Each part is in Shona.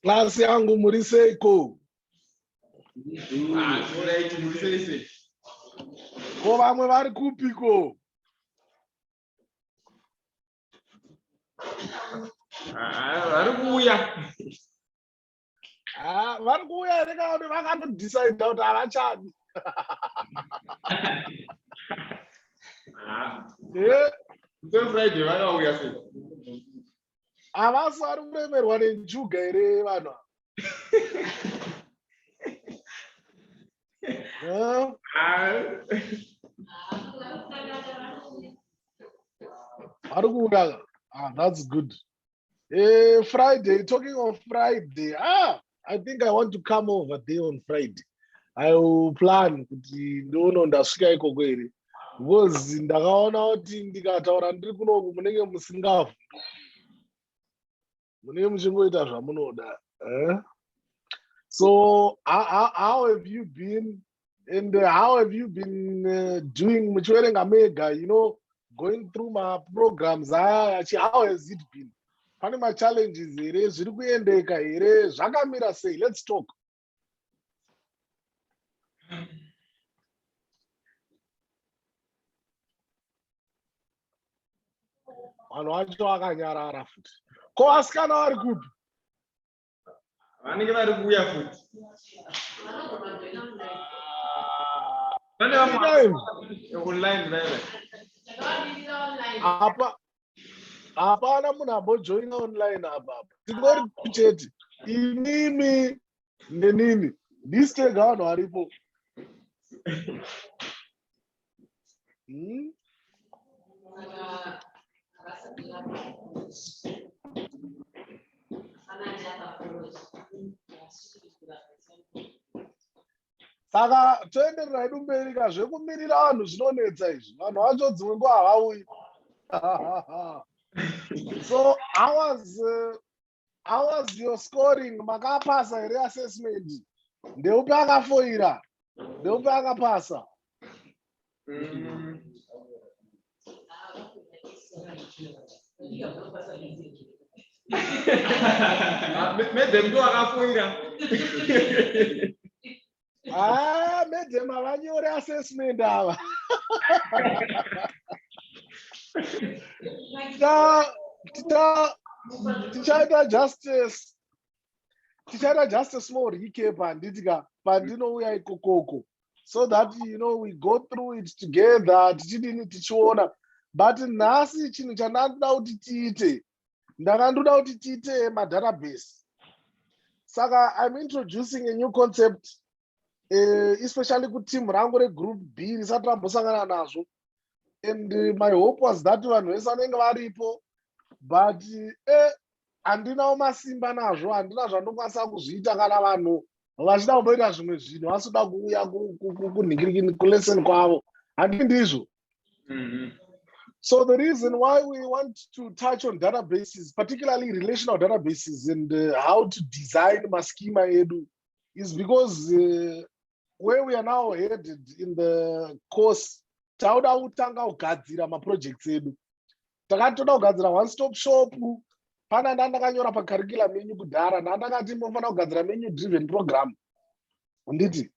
Klasi yangu muri seiko? Ah, ko vamwe vari kupiko? Ah, vari kuuya. vari kuuya here kana kuti vakatodecide kuti havachadi sefriday vakauya se havasi vari kuremerwa nenjuga here vanhu vari kuuraya ah, that's good Eh, Friday, talking of Friday. Ah, I think I want to come over there on Friday. I will plan kuti ndoono ndasvika ikoko here. Because ndakaona kuti ndikataura ndiri kunoku munenge musingafu. Munenge muchingoita zvamunoda. Eh? So how, how, how have you been? and how have you been uh, doing muchiverenga mega you know going through maprograms aya ah, how has it been pane machallenges here zviri kuendeka here zvakamira sei let's talk vanhu vacho vakanyarara futi ko vasikana vari kupi vanenge vari kuuya futi apa hapana munhu ambojoina online apa apa tingori chete inimi nenini ndisitega vanhu varipo Hmm? saka toenderera hedu mberi ka zvekumirira vanhu zvinonetsa izvi vanhu vacho dzimwe nguva havauyi so i was uh, How was your scoring? Makapasa here assessment? Ndeupi akafoira? Ndeupi akapasa? Mm. Maybe mntu akafoira. Ah, madam havanyore assessment ava Ta- ta- tichaita justice tichaita just a small recap handiti ka pandinouya ikokoko so that you know we go through it together tichidini tichiona but nhasi chinhu chandandida kuti tiite ndanga ndoda kuti tiite madatabase saka iam introducing a new concept uh, especially kuteam rangu regroup b risati rambosangana nazvo and eh, my hope was that vanhu vese vanenge varipo but eh, handinawo eh, masimba nazvo handina zvandokwanisa kuzviita kana vanhu vachida kumboita zvimwe zvinhu vasida kuuya kunhingirikini kulesson kwavo handi ndizvo mm -hmm. So the reason why we want to touch on databases, particularly relational databases and uh, how to design Maschema Edu is because uh, where we are now headed in the course, tauda kutanga kugadzira maprojects edu. Takatoda kugadzira one stop shop, pana ndandakanyora pacurriculum yenyu kudhara, ndandakati mofanira kugadzira menu driven program. handiti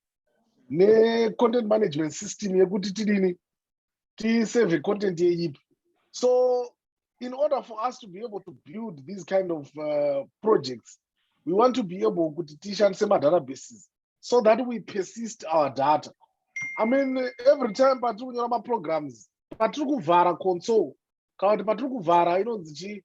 necontent management system yekuti tidini tisave content yeyipi so in order for us to be able to build these kind of uh, projects we want to be able kuti tishandise madatabases so that we persist our data i mean every time patiri kunyora maprograms patiri kuvhara console kana kuti patiri kuvhara inonzi chii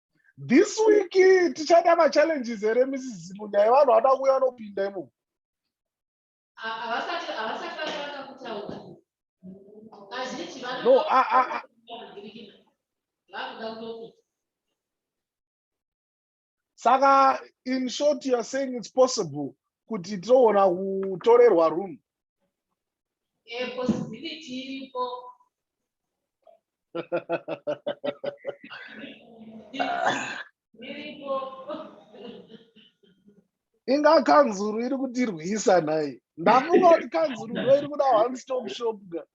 this week tichada machallenges here mrs zimu nyaya vanhu vada kuuya vanopinda imo no saka in short youare saying its possible kuti toona kutorerwa room Eh, possibility iripo. Iripo. inga kanzuru iri kutirwisa nhai ndafunga kuti kanzuru ndo iri kuda one stop shop ka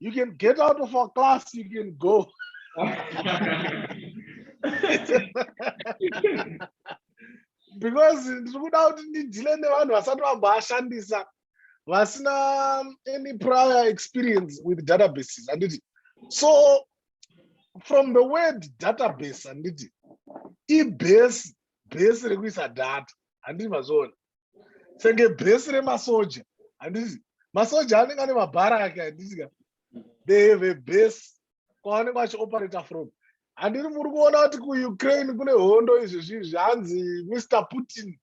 you can get out of our class you can go because ndiri kuda kuti ndidhile nevanhu vasati vamboashandisa vasina any prior experience with databases handiti so from the word database handiti ibhesi bhesi rekuisa data handiti mazviona senge bhesi remasoja handizi masoja anenge ane mabhara ake handiti ka they have a base kwavanenge vachioperator from handiri muri kuona kuti kuukraine kune hondo izvezvi zvanzi mr putin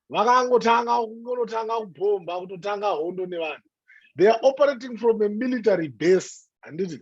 vakangotanga kungonotanga kubhomba kutotanga hondo nevanhu they are operating from a military base handiti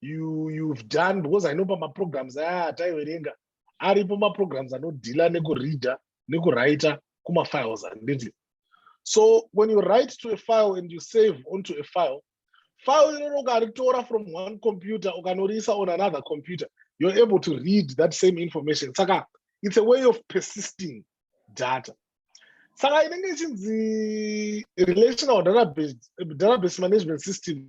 you you've done because i know pamaprograms aya ataiverenga aripo maprograms anodhila nekureader nekuwriter kumafiles handiti so when you write to a file and you save onto a file file iroro ukaritora from one computer ukanoriisa on another computer you're able to read that same information saka it's a way of persisting data saka inenge ichinzi relational database, database management system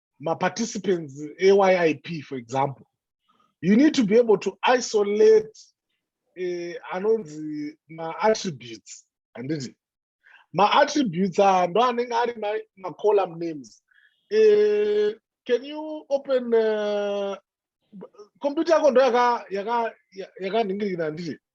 maparticipants eyip for example you need to be able to isolate eh, anonzi maattributes handiti maattributes aya ndo anenge ari macolumn names eh, can you open uh, computer yako ndo yakanhingirikina handiti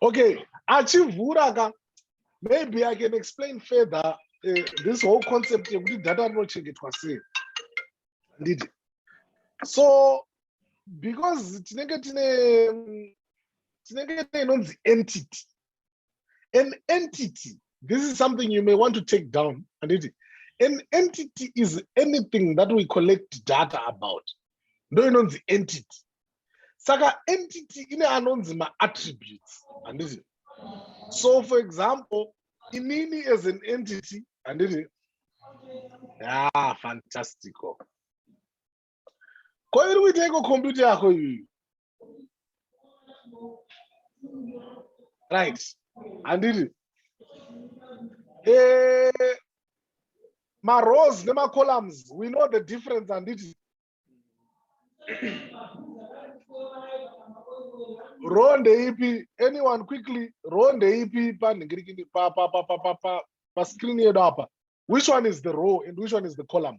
okay achivhura ka maybe i can explain further uh, this whole concept yekuti data rinochengetwa sei handiti so because tinenge tine tinenge tine inonzi entity an entity this is something you may want to take down handiti an entity is anything that we collect data about ndo inonzi entity saka entity ine anonzi maattributes handiti so for example inini as an entity handiti ah fantastico ko iri kuiteiko computer yako iyoyo right handiti eh, marows nemacolumns we know the difference handiti row ndeipi anyone quickly row ndeipi panhingirikini pascreen yedu apa which one is the row and which one is the column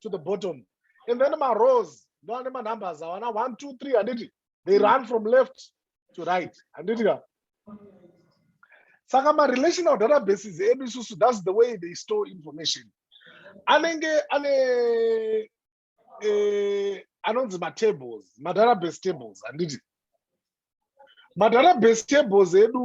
to the bottom and then marows ndoane manumbers awana one two three handiti they run from left to right handiti ka saka marelational databases edu isusu thats the way they store information anenge ane eh, anonzi matables madatabase tables handiti madatabase tables edu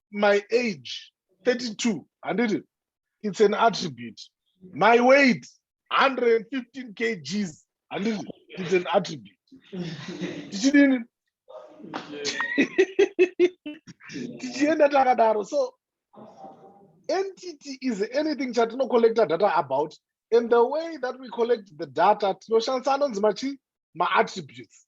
my age 32 handiti it's an attribute my weight 115 kgs handiti it's an attribute tichidini tichienda takadaro so entity is anything chatinocollecta data about and the way that we collect the data tinoshandisa anonzi machi maattributes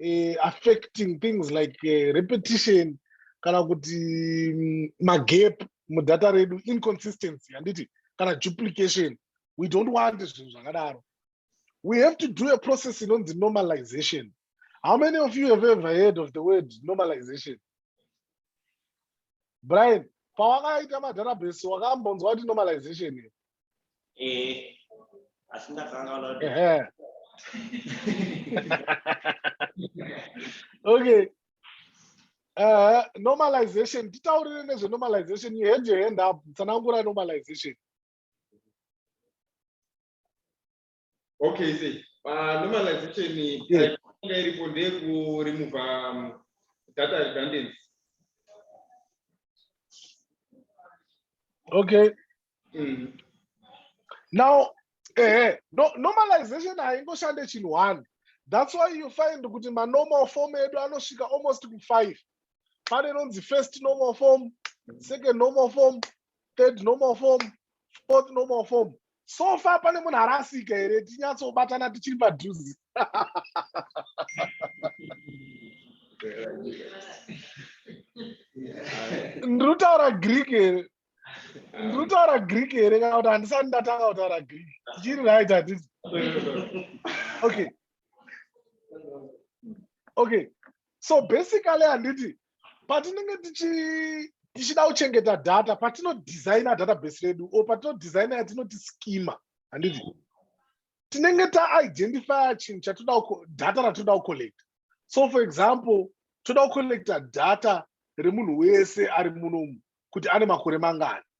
uh, affecting things like uh, repetition kana kuti mm, magap mudata redu inconsistency handiti kana duplication we don't want zvinhu zvakadaro we have to do a process inonzi normalization how many of you have ever heard of the word normalization brian pawakaita madharabhesi wakambonzwa kuti normalization here eh asi ndakanga ula okay uh, normalization titaurire nezve normalization you had your hand up tsanangura normalization okay see pa normalization yeah. inga iripo ndeyekuremova um, data redundancy okay mm. now ehe eh, no, normalization haingoshande chinhu one that's why you find kuti manormal form edu anosvika almost kufive pane inonzi first normal form second normal form third normal form fourth normal form so far pane munhu arasika here tinyatsobatana tichiri padhuze ndiri kutaura greek here ndiri kutaura greek here kana kuti handisati ndatanga kutaura greek tichiri right hatisi okay okay so basically handiti patinenge tichida kuchengeta data patinodesigna database redu o patinodesigna yatinoti skima handiti tinenge taidentifya chinhu chatoda data ratoda kucollect so for example toda kucollecta data remunhu wese ari munomu kuti ane makore mangani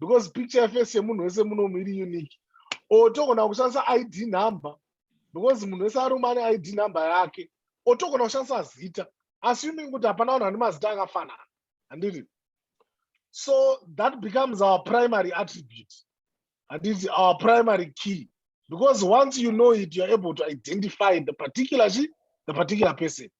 because picture yeface yemunhu wese munomu iri unique or togona kushandisa id number because munhu wese aruma ane id number yake or togona kushandisa zita assuming kuti hapana vanhu vane mazita akafanana handiti so that becomes our primary attribute handiti our primary key because once you know it youare able to identify the particular chi the particular person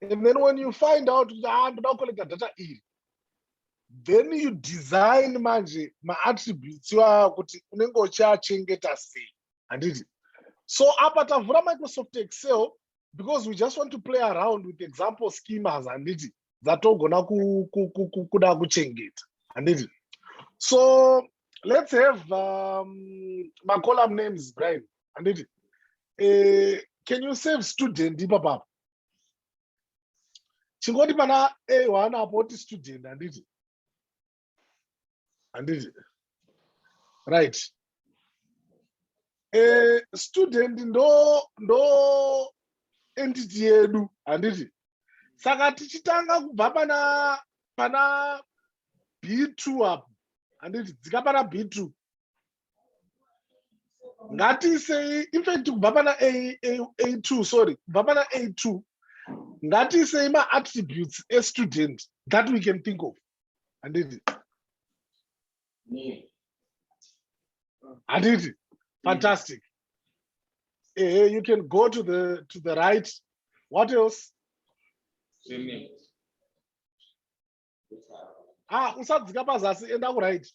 and then when you find out kuti haa ah, ndoda kucollecta data iri then you design manje maattributes iwaya kuti unenge uchiachengeta sei handiti so apa tavhura microsoft excel because we just want to play around with example schemas handiti dzatogona kuda kuchengeta handiti so let's have um, macolumn names brian handiti uh, eh, can you save student ipapapa chingoti pana a1 apo oti student handiti handiti right eh, student ndo ndo entity yedu handiti saka tichitanga kubva pana pana b2 apo handiti dzika pana b2 ngatiisei infact kubva pana a2 sorry kubva pana a2 ngatiisei maattributes estudent that we can think of handiti handiti fantastic ehe you can go to the to the right what else ah usadzika pazasi enda kuright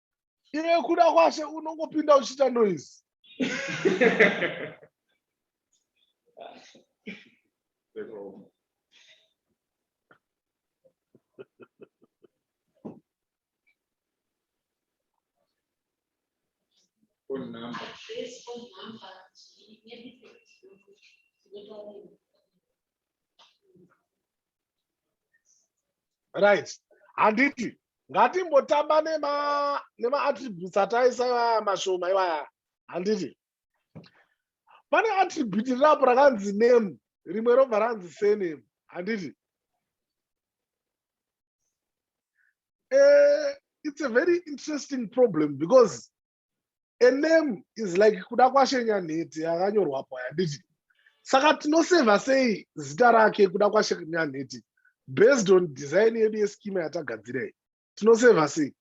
iwe kuda kwashe unongopinda uchiita noise phone number. This phone number, maybe. right handiti ngatimbotamba nema nema attributes ataisa ivaya mashoma ivaya handiti pane attribute rirapo rakanzi name rimwe robva ranzi sename handiti uh, it's a very interesting problem because a name is like kuda kwashenya nhete yakanyorwapo handiti saka tinosevha sei zita rake kuda kwashenya nhete based on design yedu yeskima yatagadzirei tinosevha sei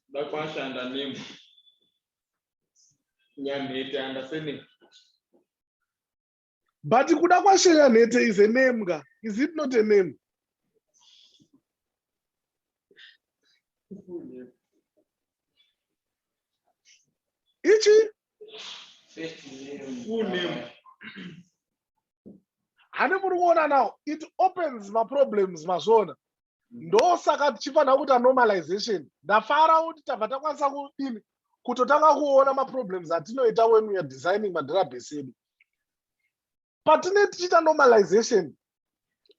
ndakwashanda name nyanhete andasenei but kuda kwashenya nhete is a name ka is it not a name ichi hane muri kuona now it opens maproblems mazvona ndosaka tichifanira kuita normalization ndafara kuti tabva takwanisa kudini kutotanga kuona maproblems atinoita when weare designing madrabes edu patine tichiita normalization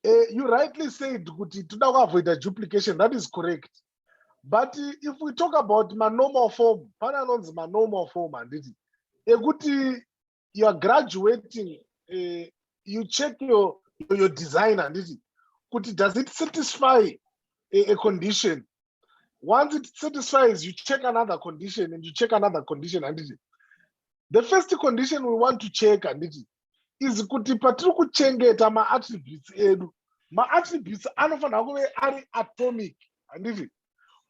uh, you rightly said kuti toda kuavoida duplication that is correct but eh, if we talk about manormal form pane anonzi manormal form handiti ekuti you are graduating uh, you check your, your design handiti kuti does it satisfy a, a condition once it satisfies you check another condition and you check another condition handiti the first condition we want to check handiti is kuti patiri kuchengeta maattributes edu maattributes anofanira kuve ari atomic handiti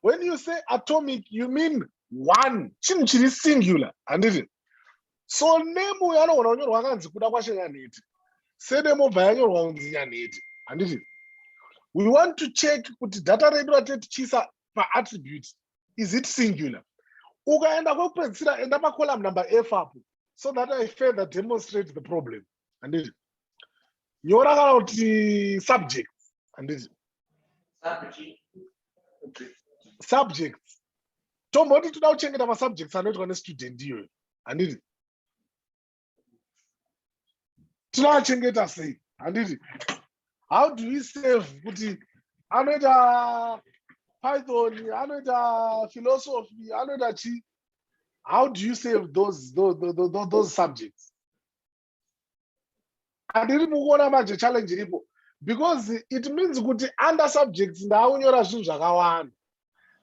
when you say atomic you mean one chinhu chiri singular handiti so name uyo anogona kunyorwa akanzi kuda kwashe nyanhete sename obva yanyorwa kunzi nyanhete handiti we want to check kuti data redu ratetichisa paattribute is it singular ukaenda kwekupedzisira enda pacolumn number f apo so that i further demonstrate the problem handiti nyora kana kuti subject handiti subject tomboti toda kuchengeta masubjects anoitwa nestudent iyoyo handiti tinoachengeta sei handiti how do we save kuti anoita python anoita philosophy anoita chii how do you save those, those, those, those subjects andiri mukuona manje challenge iripo because it means kuti under subjects ndaakunyora zvinhu zvakawanda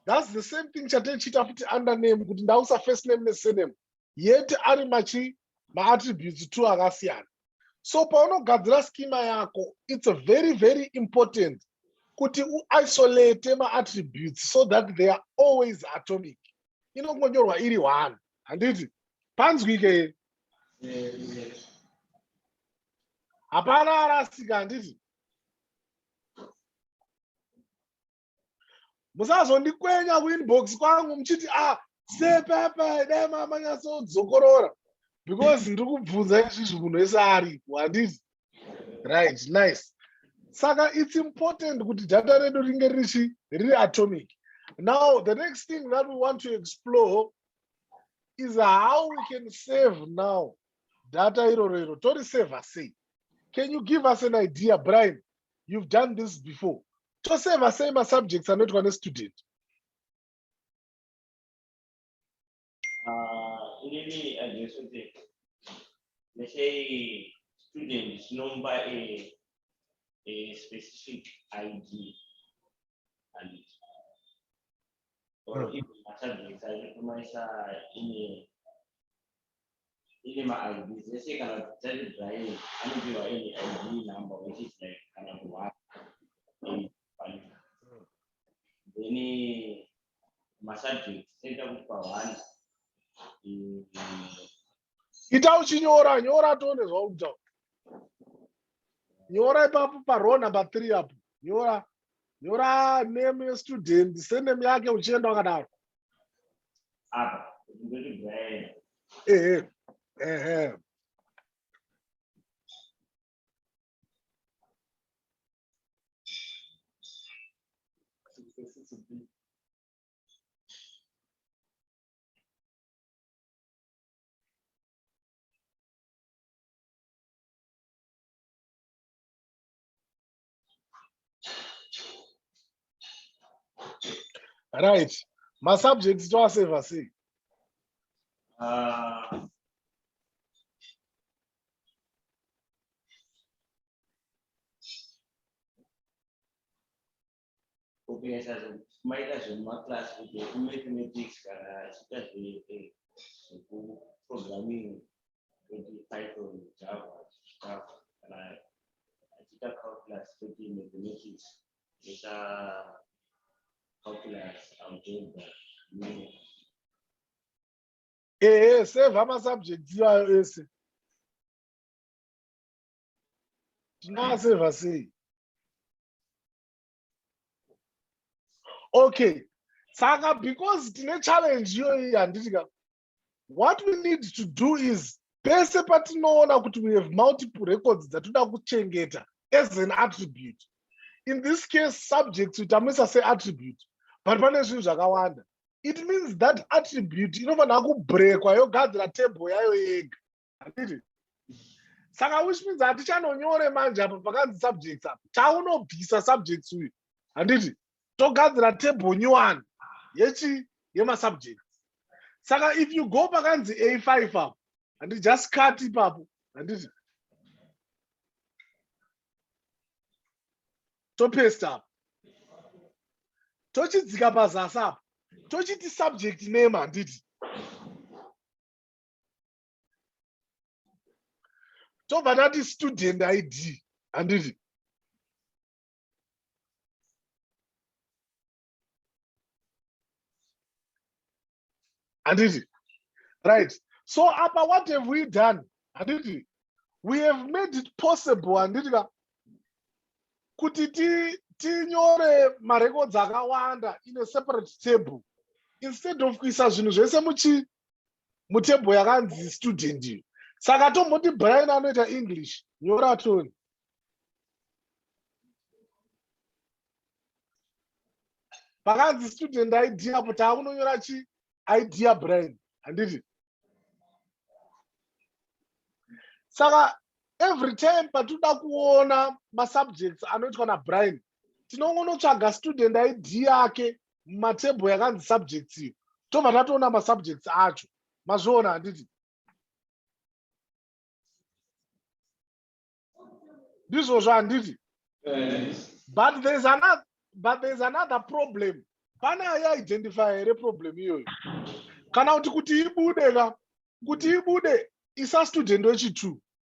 thats the same thing chatechiita futi under name kuti ndausa first name nesename yet ari machi maattributes two akasiyana so paunogadzira schema yako it's very very important kuti uisolate maattributes so that they are always atomic inongonyorwa iri one handiti panzwike hapana arasika handiti musazondikwenya kuinbox kwangu muchiti a ah, sepepe dai mamanyatsozokorora because ndiri kubvunza izvizvi munhu wese aripo handiti right nice saka it's important kuti data redu ringe richi riri atomic now the next thing that we want to explore is how we can save now data iroro iro tori saver sei can you give us an idea brian you've done this before toseva sei masubjects anoitwa nestudent ah, inini ajesu kuti nesei student chinomba a, a specific id and or mm. even matabheti aitomaisa ine ine maid dzese kana dzati drying anopihwa any id number which is like kana kuhwara hmm. then masubject toita kupa one ita uchinyora nyora tione zvauri kutaura nyora ipapo parow number three apo nyora nyora name yestudent sename yake uchienda wakadaro ehe ehe right masubjects toaseva sei uh, kunyasa kumaita zvemumaclass kuti kumathematics kana achiita zvekuprogramming kuti python java chikafu kana achiita calculus kuti mathematics kuita calculus algebra ehe sevha masubjects iwayo ese tingaseva sei okay saka because tine challenge iyoyi handiti ka what we need to do is pese patinoona kuti we have multiple records dzatoda kuchengeta as an attribute in this case subject titamuisa seattribute but pane zvinhu zvakawanda it means that attribute inofanira kubrekwa yogadzira table yayo yega handiti saka which means hatichanonyore manje apa pakanzi subjects apa taunobvisa subjects uyu handiti togadzira table new one yechi yemasubjects saka if you go pakanzi a5 apo handi just cut ipapo handiti topest apo tochidzika pazasi apo tochiti subject name handiti tobva tati student id handiti handiti right so apa what have we done handiti we have made it possible handiti ka kuti tinyore ti marecords akawanda in a separate table instead of kuisa zvinhu zvese muchi mutable yakanzi student iyo saka tomboti brian anoita english nyora toni pakanzi student id apo taakunonyora chi id yabrian handiti saka every time patinoda kuona masubjects anoitwa nabrian tinongonotsvaga student id yake mumatable yakanzi subjects iyo tobva tatoona masubjects acho mazviona handiti ndizvozvo handiti but thereis another but thereis another problem pane aiidentify here problem iyoyo kana kuti kuti ibude ka kuti ibude isastudent wechitwo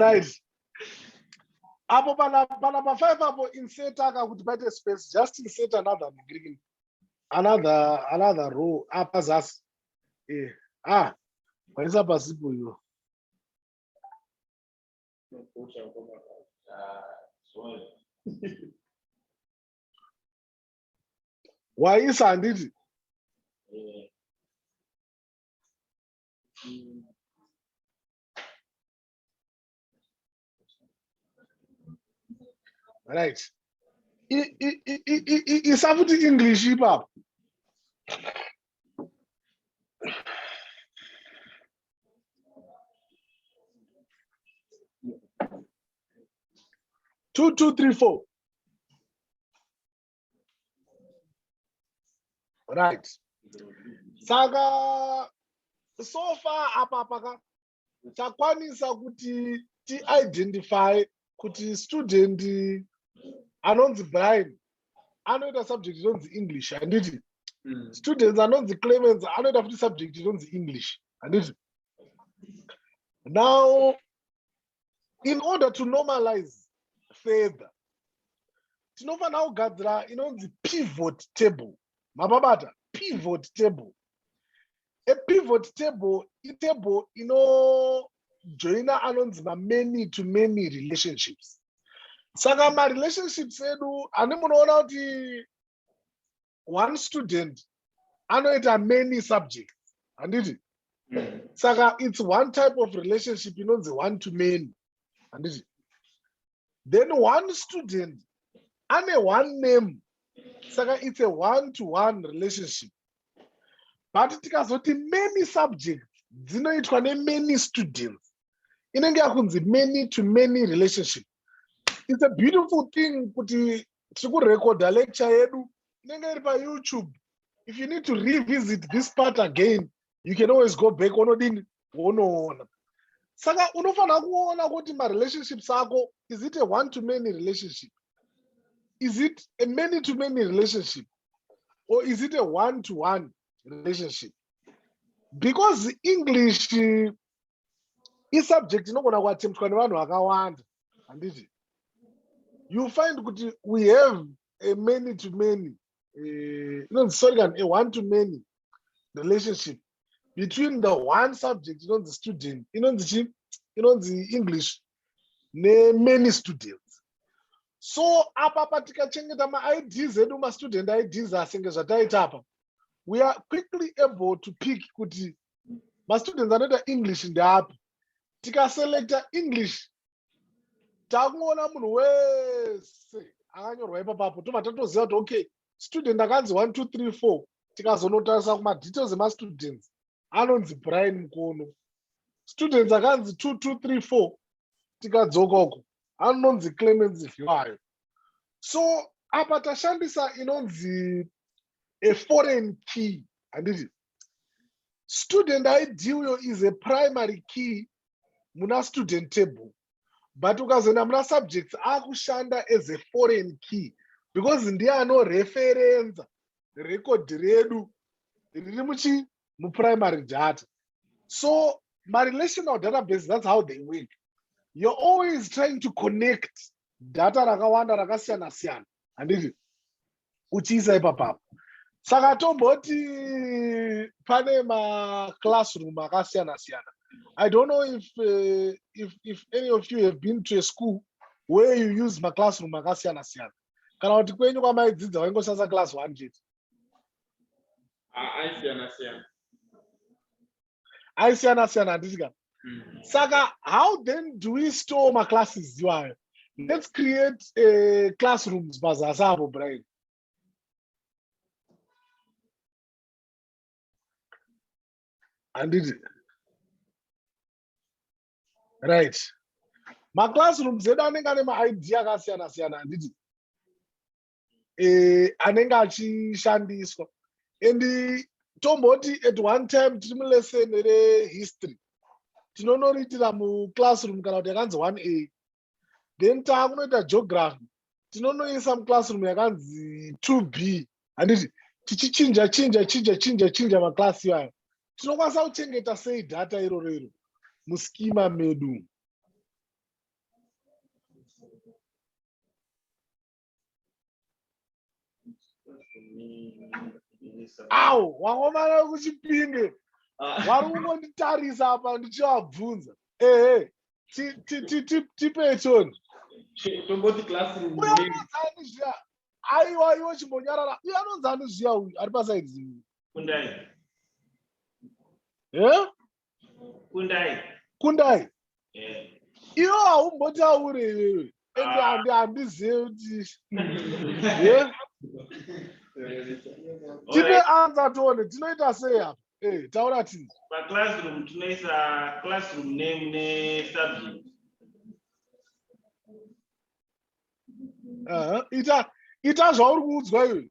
right apo pana pana pa five apo insert aka kuti paite space just insert another degree another another row apa ah, zasi eh ah paisa pasipo iyo waisa handiti right isa futi english ipapo Two, two, three, four. Right. Saka so far apa paka takwanisa kuti ti identify kuti student anonzi brian anoita subject inonzi english handiti mm. students anonzi clemens anoita futi subject inonzi english handiti now in order to normalize further tinofanira kugadzira inonzi pivot table mababata pivot table a pivot table itable inojoina anonzi mamany to many relationships saka marelationships edu ani munoona kuti one student anoita many subjects handiti mm. saka its one type of relationship inonzi one to many handiti then one student ane one name saka it's a one to one relationship but tikazoti many subjects dzinoitwa nemany students inenge yakunzi many to many relationship it's a beautiful thing kuti tiri kurekodha lecture yedu inenge iri payoutube if you need to revisit this part again you can always go back onodini wonoona saka unofanira kuona kuti marelationships ako is it a one to many relationship is it a many to many relationship or is it a one to one relationship because english isubject inogona kuatemptwa nevanhu vakawanda handiti you find kuti we have a many to many inonzi sorry kani a one to many relationship between the one subject inonzi student inonzi chi inonzi english nemany students so apapa tikachengeta maids edu mastudent ids asenge zvataita apa we are quickly able to pick kuti mastudents anoita english ndeapi tikaselecta english takungoona munhu wese akanyorwa ipapapo tobva tatoziva kuti okay student akanzi one two three four tikazonotarisa kumadetails emastudents anonzi brian mukono students akanzi two two three four tikadzoka uko anonzi clemens vhiwayo so apa tashandisa inonzi a foreign key handiti student id uyo is a primary key muna student table but ukazoenda muna subjects akushanda as a foreign key because ndiye anoreferenza record redu riri muchi muprimary data so marelational databases that's how they work you're always trying to connect data rakawanda rakasiyana siyana handiti uchiisa ipapapa saka tomboti pane maclassroom akasiyana siyana i don't know if, uh, if, if any of you have been to a school where you use maclassroom akasiyana siyana kana kuti kwenyu kwamaidzidza waingosasa class one chete aisiyana siyana aisiyana siyana handiti ka mm. saka how then do we store maclasses iwayo let's create uh, classrooms pazasi apo brian handiti right maclassrooms edu anenge ane maid akasiyana siyana handiti eh, anenge achishandiswa and tomboti at one time tiri mulesson rehistory tinonoritira muclassroom kana kuti yakanzi one a then taakunoita geography tinonoisa muclassroom yakanzi two b handiti tichichinja chinja chinja chinja chinja maclass iwayo tinokwanisa kuchengeta sei data iroro iro muskima medu awu wakomana kuchipinge wari kungonditarisa apa ndichivabvunza ehe tipechoni tomboti klasiuyaanonzani zviya aiwa iwo chimbonyarara uye anonzani zviya uyu ari pasaidi zii e kundai kundai eh. iwo haumbotaure iwewe ende ah. handizive kuti tipe anza tione tinoita sei apa eh, taura ti paclassroom tinoisa classroom name nesubject ita ita zvauri kuudzwa iwe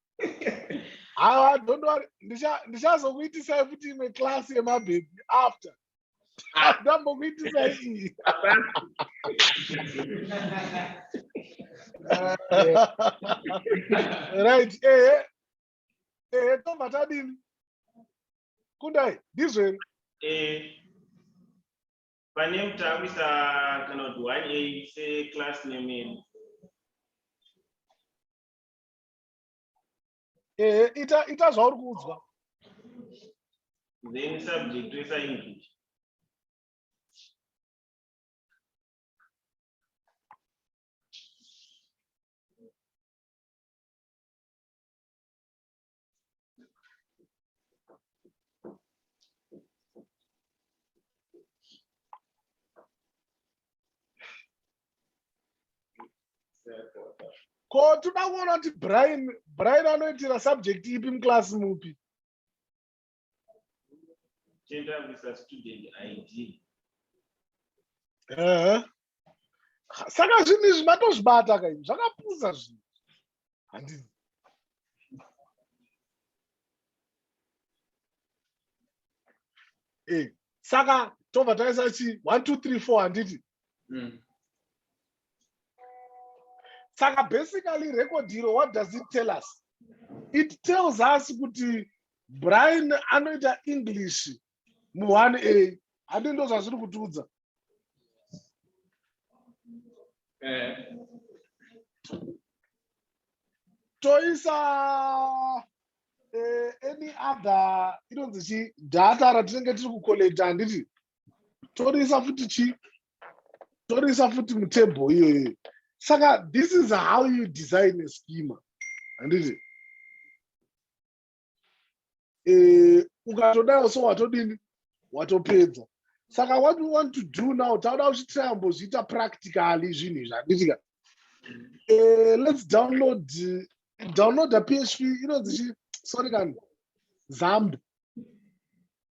Awa, don't worry. Ndichazokuitisai futi imwe class yemabhebhi after. Ndambokuitisai iyi. Right, ehe. Ehe, tobva tadini? Kundai, ndizvo here? Eh. Pane mutambisa kana kuti 1A seclass name. ehe ita ita zvauri kuudzwa then subject toisa english ko toda kuona kuti brian brian anoitira subject ipi muclass mupi saka zvinhu izvi matozvibata kaini zvakapusa zvinhu handi eh saka tobva taisa chi 1 2 3 4 handiti mm. saka basically record iro what does it tell us it tells us kuti brian anoita english mu 1a handi ndo zvazviri kutiudza eh. toisa eh, any other inonzi chi data ratinenge tiri kucollect handiti toriisa futi chi toriisa futi mutable iyoyo saka this is how you design a schema handiti eh, ukatodaro so watodini watopedza saka what we want to do now tauda kuchitayambozviita practically zvinhu izvi handitika eh, let's download downloada php inonzi chi sorry kani zamb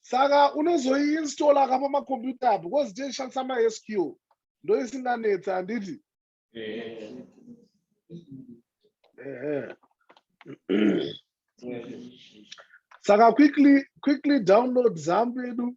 saka unozoiinstall aka pamakombiyuta apo because tinoshandisa masq ndoisinganetsi handiti saka quickly quickly download zambu yedu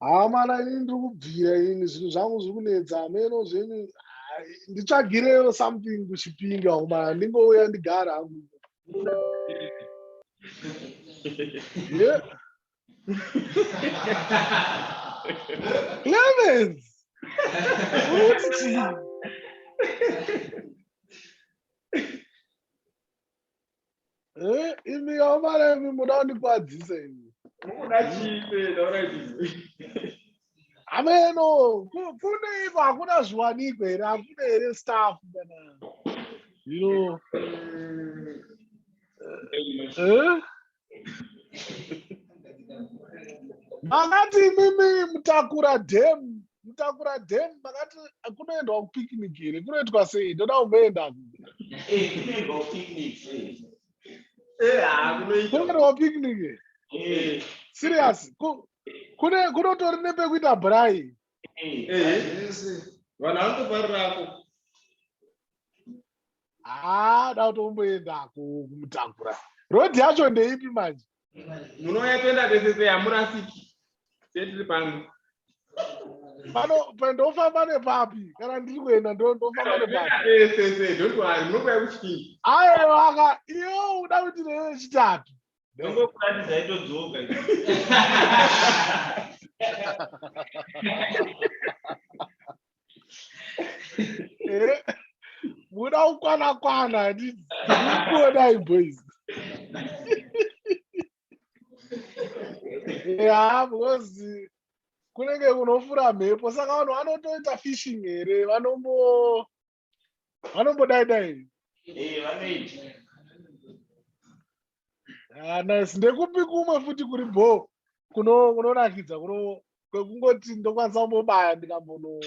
hamana ini ndiri kubvira ini zvinhu zvangu zviri kunetsa hameno zveni nditsvagireyo something kuchipinga kumana ndingouya ndigara hangu yeah. Clemens! Uti! Eh, imi yamara imi muda kundikwadzisa imi. Mukuda chii pee taura izvi? Ameno, ku- kune iko hakuna zviwanikwa here? Hakuna here staff kana? You know, eh? makati imimi mutakura dam mutakura dam makati kunoendwa kupicnic here kunoitwa sei ndoda kumboenda kunoendwa kupicnic serious kunotori nepekuita brai vanhu vanotoparirako haa da kuti umboendako kumutakura road yacho ndeipi manje munouya toenda tese seyamurasiki setiri pano pano ndofamba nepapi kana ndiri kuenda ndofamba nepapiaewa ka iyo uda kuti reve chitatu ndongokuratidzai todzoka muda kukwana kwana ndikuonai boys ya because kunenge kunofura mhepo saka vanhu vanotoita fishing here vanombo vanombodai dai ah, nice ndekupi kumwe futi kuri bho kunonakidza kuno kwekungoti ndokwanisa kumbobaya ndikambono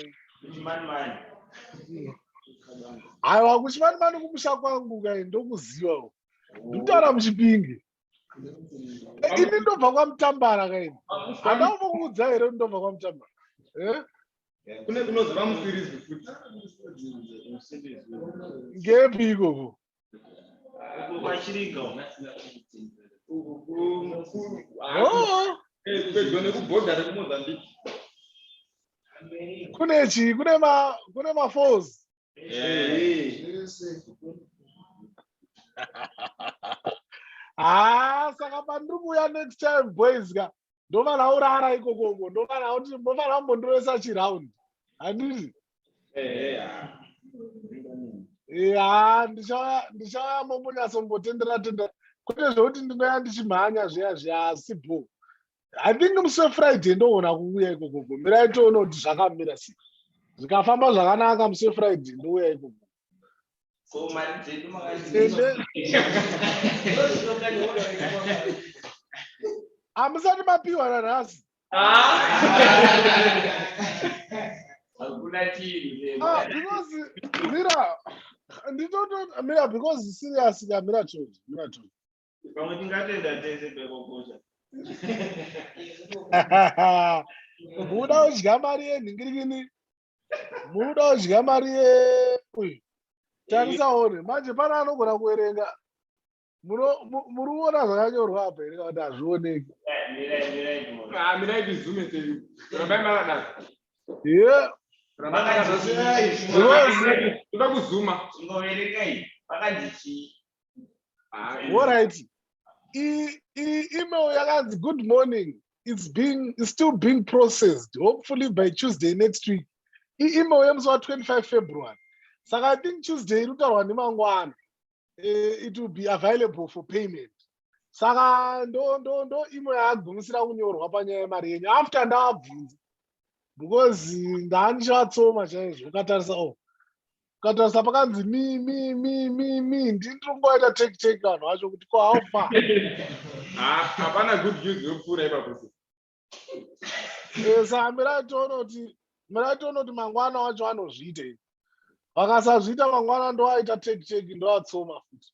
aiwa kuchimani mani kumusha kwangu kai ndokuziva ndikutaura muchipinge ini ndobva kwamutambara kaini handauvo kuudza here ndobva kwamutambara eh? kune kunozova musirizi futi ngepi ikoko pedyo nekubhodha rekumozambique kune chii kune ma kune mafalls haa saka pandiri kuuya next time boys ka ndofanira urara ikokoko ndofanira kuti ndofanira kumbondiresa chiround handiti ya ndichauya mombonyatsombotenderatendera kwete zvekuti ndinoya ndichimhanya zviya zviya asi bho i think musi wefriday ndoona kuuya ikoko gomirai toona kuti zvakamira sei zvikafamba zvakanaka musi wefriday ndouya ikoko hamusati mapiwa nanhasi mira nditoto mira because serious ka mira chonje mira chonje Pamwe tingatenda tese pekokosha. Muda udya mari yenhingirikini. Muda udya mari ye uyu. Tarisa one. Manje pana anogona kuerenga. Muruona zvakanyorwa apa here kuti hazvioneki. Ah, mirai tizume tiri. Rambai makadaro. Yeah. Rambai makadaro. Zvoda kuzuma. Chingoverengai. Pakandichii. Alright. E e email yakanzi good morning. It's being it's still being processed. Hopefully by Tuesday next week. E email yemusi wa 25 February. Saka I think Tuesday inotaurwa nemangwana. Uh, it will be available for payment. Saka ndo ndo ndo email yagumisira kunyorwa panyaya yemari yenyu after ndavabvunza because ndanichatsoma chaizvo ukatarisa oh ukatarisa pakanzi mi mi mi mi mi ndini ndiri kungovaita take take vanhu vacho kuti ko how far ah, hapana good news yopfuura ipapo eh, saa mirai tione kuti mirai tione kuti mangwana wacho anozviita i vakasazviita mangwana ndovaita take take ndovatsoma futi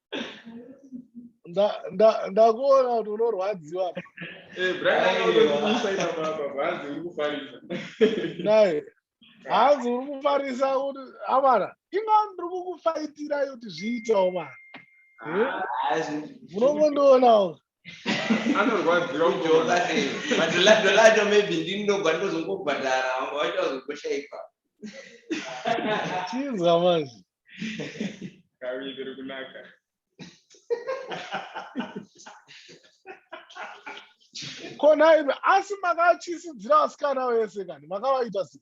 ndakuona kuti unorwadziwa hanzi uri kufarisa kuti amana inga ndiri kukufaitira kuti zviitawo mana munongondiona anorwadziwa kujoka madholadholado maybe ndinogwa ndozongobhadhara vanga vaita vazogoshaipa chinzwa manje kaviri iri kunaka kona imi asi makatyisidzira vasikana vese kani makavaita sei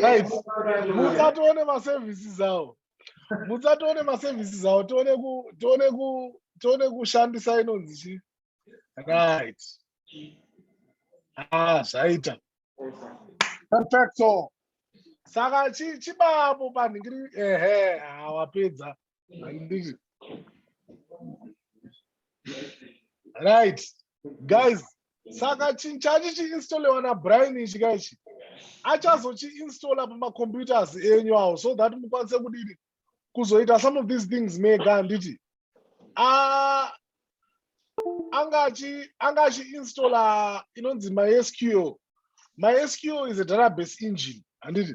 guys mutsa tione maservices awo mutsa tione maservices awo tione ku tione ku tione kushandisa inonzi chi right ah zvaita perfecto saka chi chibapo panhingiri ehe hawapedza ah, Handisi. Right. Guys, saka chi- chachi chiinstolewa nabrian ichi ka ichi achazochiinstalla pamacomputers enyu awo so that mukwanise kudini kuzoita some of these things mega handiti Ah, anga achi anga achi installer inonzi mysql mysql is a database engine handiti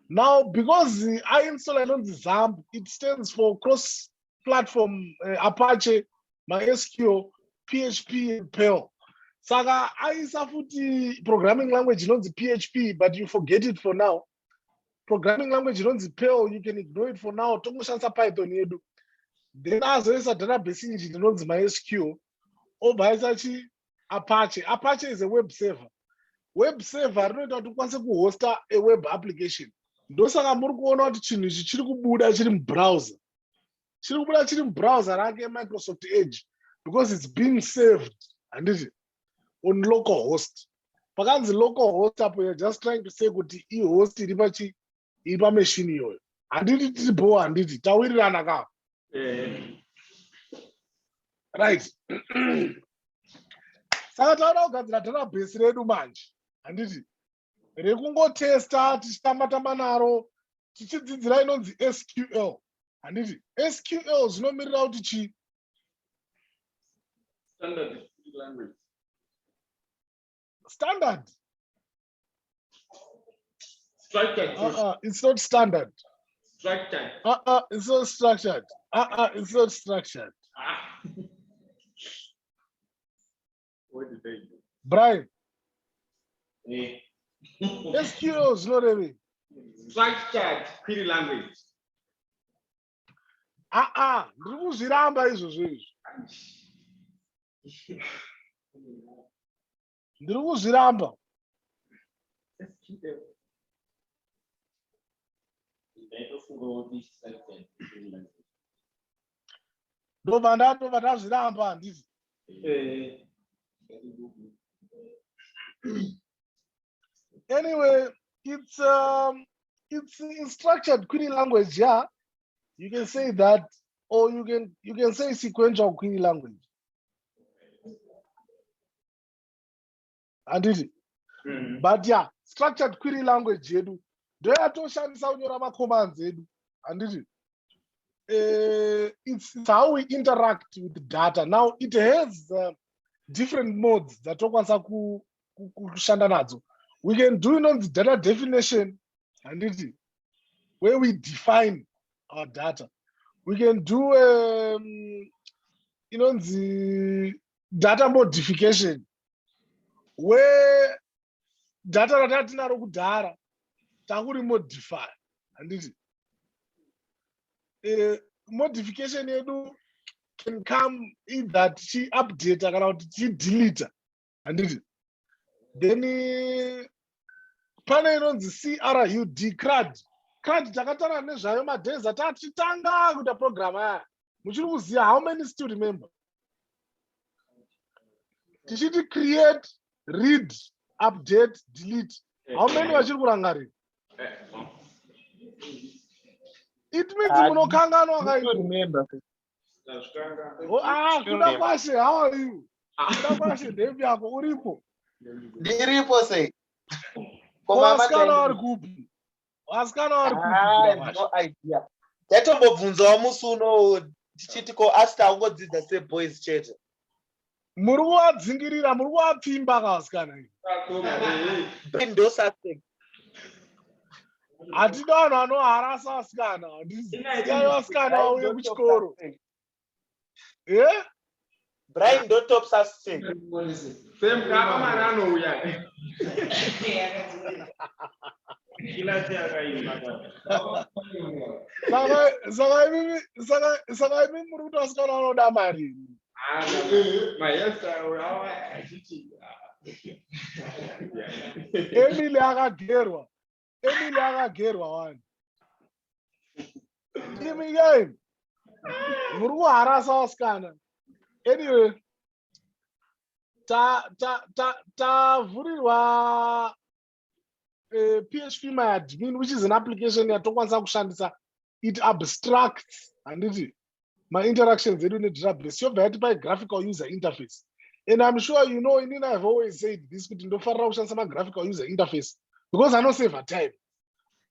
now because i installer inonzi zamb it stands for cross platform uh, apache mysql php and perl saka aisa futi programming language inonzi php but you forget it for now programming language inonzi perl you can ignore it for now tongoshandisa python yedu then azoisa database engine inonzi mysql obva aisa chi apache apache is a web server web server rinoita kuti ukwanise kuhosta a web application ndosaka muri kuona kuti chinhu ichi chiri kubuda chiri mubrowser chiri kubuda chiri mubrowser rake microsoft edge because its being served handiti on local host pakanzi local host apo you're just trying to say kuti ihost iri pachi iri pameshini iyoyo handiti tiri bhowa handiti tawirirana ka eh. right saka taona kugadzira dharabhesi redu manje handiti rekungotesta tichitamba tamba naro tichidzidzira inonzi sql handiti sql zvinomirira kuti chi standard structured uh -uh, it's not standard structured uh -uh, it's not structured uh -uh, it's not structured ah. brian eh. sql zvinorevei structured query language aa ah, ah, ndiri kuzviramba izvozvo izvi ndiri kuzviramba ndobva ndatobva ndazviramba handizi anyway it's um, it's instructured query language yeah you can say that or you can you can say sequential query language handiti mm. but ya yeah, structured query language yedu ndoyatoshandisa kunyora macommands edu handiti uh, it's, it's how we interact with data now it has uh, different modes dzatokwanisa kushanda nadzo we can do inonzi data definition handiti where we define our data we can do um, inonzi data modification we data ratatinaro kudhara takuri modify handiti eh, modification yedu can come either tichiupdate kana kuti tichidelete handiti then pane inonzi crud crud crud takatara nezvayo madays atatitanga kuita program aya muchiri kuziva how many still remember tichiti create read update delete how many vachiri kurangarira it means ah, munokanganwa kaikuda oh, ah, kwashe how are you kuda ah. kwashe ndemi yako uripo ndiripo sei komasikana vari kupi vasikana vari kuidiya ah, ndatombobvunzawo musi uno tichiti ko asi taungodzidza seboys chete muri kuvadzingirira muri kuvapfimba ka vasikana ndosase hatina vanhu vanoharasa vasikana ndisikai vasikana vauye kuchikoro eh? Brian don't top us team. Same kama marano uya. Kila chaka ima. Saka saka mimi saka saka mimi muri kuti asikana anoda mari. Ah, maesta awa achiti. Emily akagerwa. Emily akagerwa wani. Ndimi yei. Muri kuharasa vasikana. Anyway. Ta ta ta tavhurirwa eh, PHP my admin which is an application yatokwanisa kushandisa it abstracts handiti mainteractions edu nedatabase yobva yati pai graphical user interface and im sure you know inini ihave always said this kuti ndofarira kushandisa magraphical user interface because anosavhe time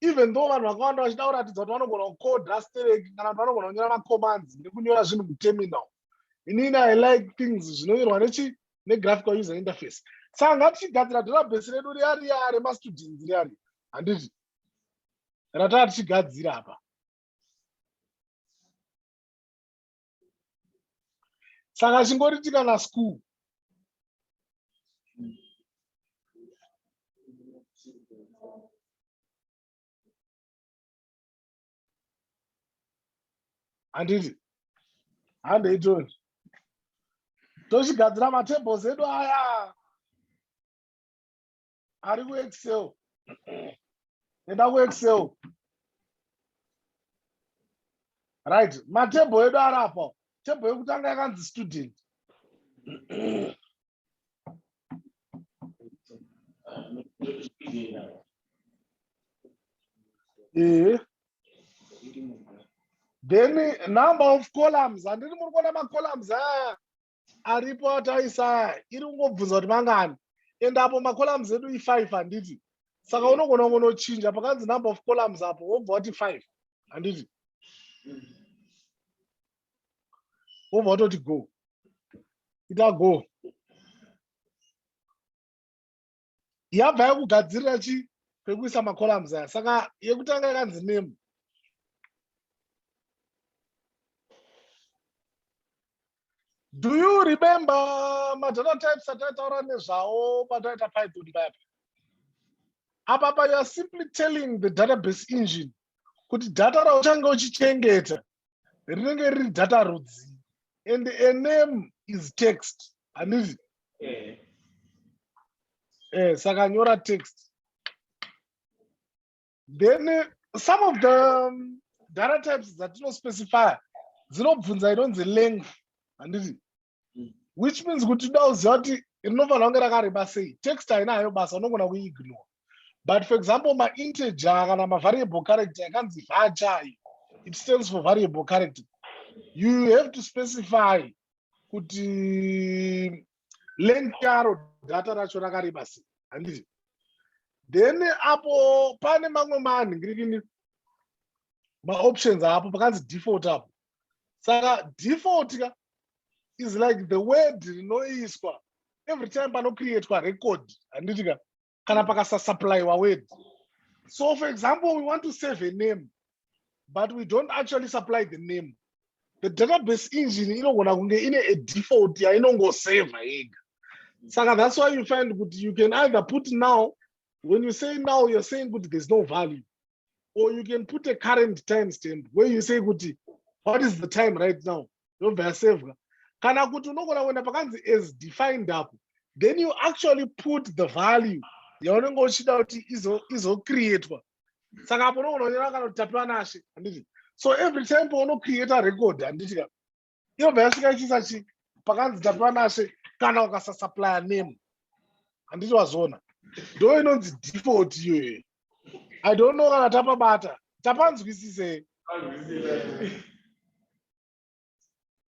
even though vanhu vakawanda vachida kuratidza kuti vanogona kucoda sterek kana kuti vanogona kunyora macommands nekunyora zvinhu muterminal inini i like things zvinonyorwa nechi negraphical user interface saka ngatichigadzira database redu riya riya remastudents riya riya handiti rataa tichigadzira apa saka chingoriti kana school handiti handeitoni tochigadzira matables edu aya ari kuexcel enda kuexcel right matebho edu ari apa tebho yekutanga yakanzi student ehe then number of columns handiti muri kuona macolumns aya aripo ataisa iri kungobvunza kuti mangani and apo macolumns edu i5 handiti saka unogona kunochinja pakanzi number of columns apo wobva wati 5 handiti wobva watoti go ita go yabva yakugadzirira chi kwekuisa macolumns aya saka yekutanga yakanzi name do you remember madata types ataitaura nezvawo pataita python payapa apa pa youare simply telling the database engine kuti data rauchange uchichengeta rinenge riri data rudzi and a name is text handizi eh. eh, saka nyora text then uh, some of the um, data types dzatinospecifya dzinobvunza inonzi length handiti mm. which means kuti da uziva kuti rinofanira kunge rakareba sei text haina hayo basa unogona kuiignore but for example mainteger kana mavariable character yakanzi vacha iyo it stands for variable character you have to specify kuti length yaro data racho rakareba sei handiti then apo pane mamwe manhingirini maoptions apo pakanzi default apo saka default ka is like the word rinoiswa every time panocreatwa record handiti ka kana pakasasupplyiwa word so for example we want to save a name but we don't actually supply the name the database engine inogona kunge ine a default yainongoseva yega saka that's why you find kuti you can either put now when you say now you're saying kuti there's no value or you can put a current time stamp where you say kuti what is the time right now yobva yasevwa kana kuti unogona kuenda pakanzi as defined apo then you actually put the value yaunenge uchida kuti izocreatwa saka apo unogona kunyora kana kuti tapiwa nashe handiti so every time paunocreata record handiti ka yobva yasvika ichiisa chi pakanzi tapiwa nashe kana ukasasuplya name handiti wazoona ndo inonzi default iyoyo i don't know kana tapabata tapanzwisise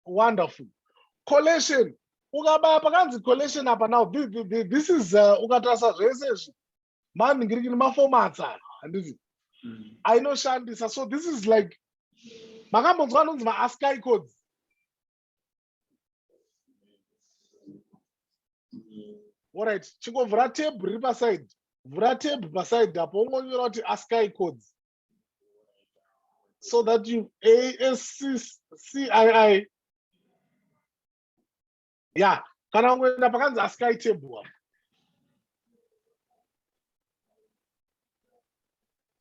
wonderful collection ukabaya pakanzi collection apa now this is uh, ukatarisa zvese izvi mani ngiriki ni mafomats aya handiti mm. ainoshandisa so this is like makambonzwa anonzi maasky codes orit chingomvura teb riri paside vhura teb paside apo ungonyora kuti asky codes so that you ascii ya kana kungoenda pakanzi asky table apo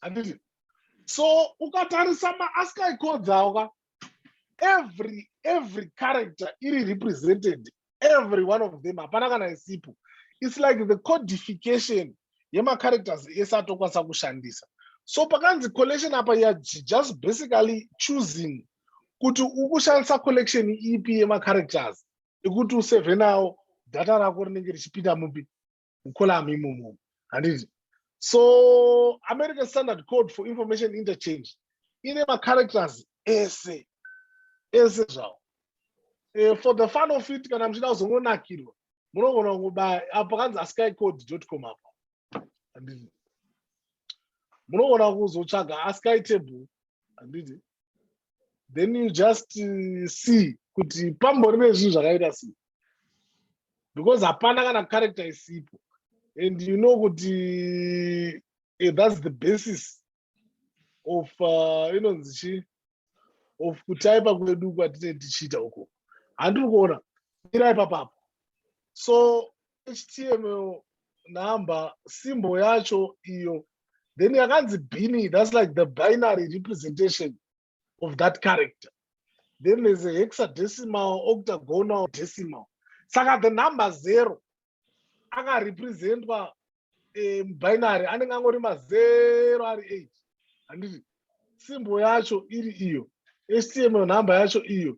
handiti so ukatarisa maasky codes awo ka every every character iri represented every one of them hapana kana isipo it's like the codification yemacharacters ese atokwanisa kushandisa so pakanzi collection apa ya just basically choosing kuti ukushandisa collection ipi yemacharacters ekuti useve nawo data rako rinenge richipinda mupi mucolamu imomo handiti so american standard code for information interchange ine macharacters ese ese zvawo eh, for the fun of it kana muchida kuzongonakirwa munogona kungobaya apo kanzi askycode.com apo handiti munogona kuzotsvaga askytable handiti then you just uh, see kuti pambori nezvinhu zvakaita sei because hapana kana character isipo and you know kuti eh, that's the basis of uh, inonzi chi of kutaipa kwedu kwatine tichiita uko handiri kuona mira ipapapo so html number simbo yacho iyo then yakanzi bini thats like the binary representation of that character then there's a hexadecimal octagonal decimal saka the number zero akarepresentwa eh, mubinary anenge angori mazero ari eight handiti simbo yacho iri iyo html number yacho iyo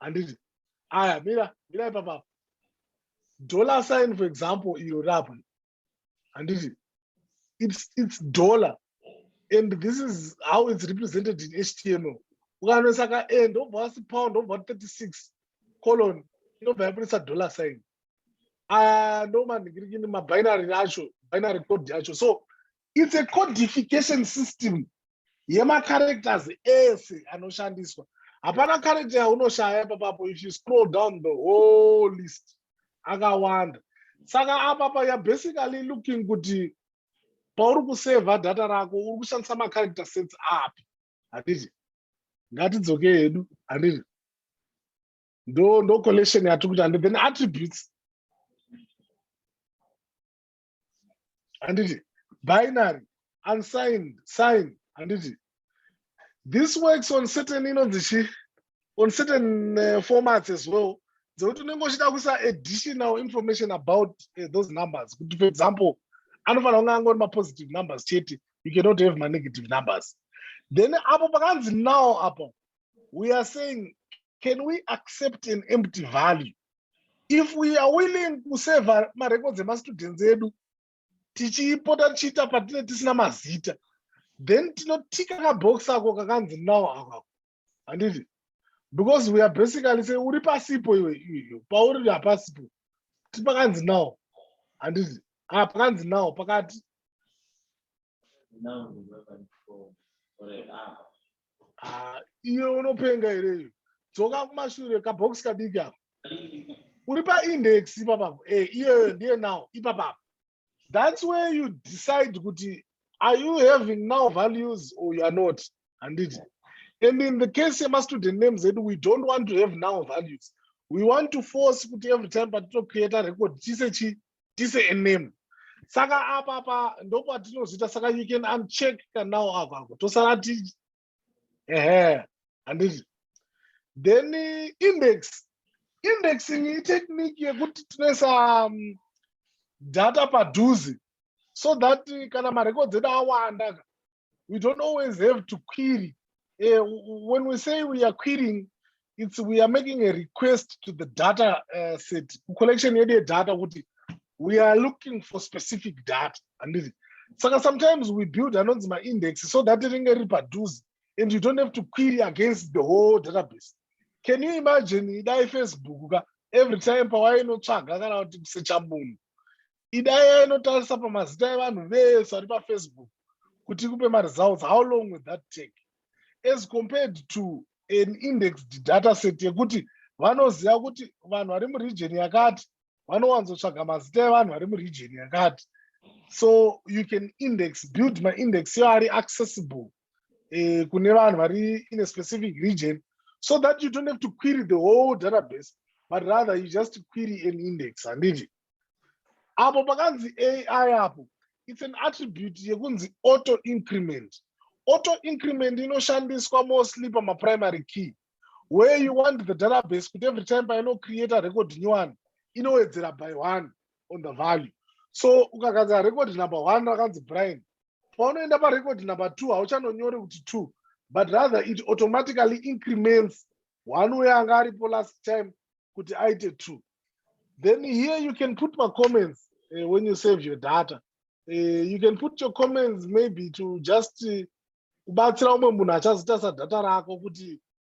handiti aya mira mira ipapa dollar sign for example iro rapo handiti it's, it's dollar and this is how it's represented in html ukanoisa ka and obva wasi pound obva 36 colon inobva yabudisa dollar sign aya ah, ndomaningirikini mabinary acho binary code yacho so its a codification system yemacharacters ese anoshandiswa hapana character yaunoshaya ipapapo if you scroll down the whole list akawanda saka apapa you're basically looking kuti pauri kusevha data rako uri kushandisa macharacter sets api handiti ngatidzoke hedu handiti ndo ndo collection yatiri kuita and then attributes handiti binary unsigned sign handiti this works on certain inonzi chi on certain uh, formats as well dzekuti unenge uchida kuisa additional information about uh, those numbers kuti for example anofanira kunge angori mapositive numbers chete you cannot have manegative numbers then apo pakanzi now apo we are saying can we accept an empty value if we are willing kuseva marecords emastudents edu tichipota tichiita patine tisina mazita then tinotika kabox ako kakanzi now akako handiti because we are basically say uri pasipo iwe iyo pauri hapasipo ti pakanzi now handiti a ah, pakanzi now pakati ah, iwe unopenga here iyo dzoka kumashure kabhokisi kadiki apo uri paindex ipapapo e eh, iyoyo ndiye now ipapapo that's where you decide kuti are you having now values or you are not handiti and in the case yemastudent names edu we don't want to have now values we want to force kuti every time patitocreata record chise chii tise a name saka apa apa ndopatinozita saka you can uncheck kanao ava ako tosara ti ehe handiti then eh, index indexing itechnique yekuti tinoisa um, data padhuze so that eh, kana marecords edu awanda we don't always have to query uh, when we say we are querying it's we are making a request to the data uh, set collection yedu yedata kuti we are looking for specific data handiti saka sometimes we build anonzi maindex so that ringe riri padhuze and you don't have to query against the whole database can you imagine dai facebook ka every time pawainotsvaga kana kuti kusecha munhu idaya inotarisa pamazita evanhu vese vari pafacebook kuti ikupe maresults how long will that take as compared to an indexed data set yekuti vanoziva kuti vanhu vari muregion yakati vanowanzotsvaga mazita evanhu vari muregion yakati so you can index build maindex yo ari accessible eh, kune vanhu vari in a specific region so that you don't have to query the whole database but rather you just query an index handiti apo pakanzi ai apo it's an attribute yekunzi auto increment auto increment inoshandiswa mostly pamaprimary key where you want the database kuti every time painocreata record nyowani inowedzera by one on the value so ukagadzira record number one rakanzi brian paunoenda parecord number two hauchanonyore kuti two but rather it automatically increments one uyo anga aripo last time kuti aite two then here you can put macomments uh, eh, when you save your data uh, you can put your comments maybe to just eh, kubatsira uh, umwe munhu achazita sadata rako kuti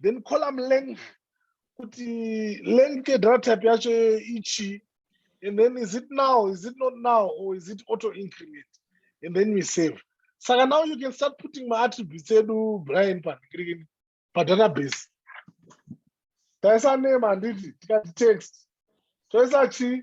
then column length kuti length yedata type yacho ichii and then is it now is it not now or is it auto increment and then we save saka now you can start putting maattributes edu brian panikirikini padatabase taisa name handiti tikati text toisa chii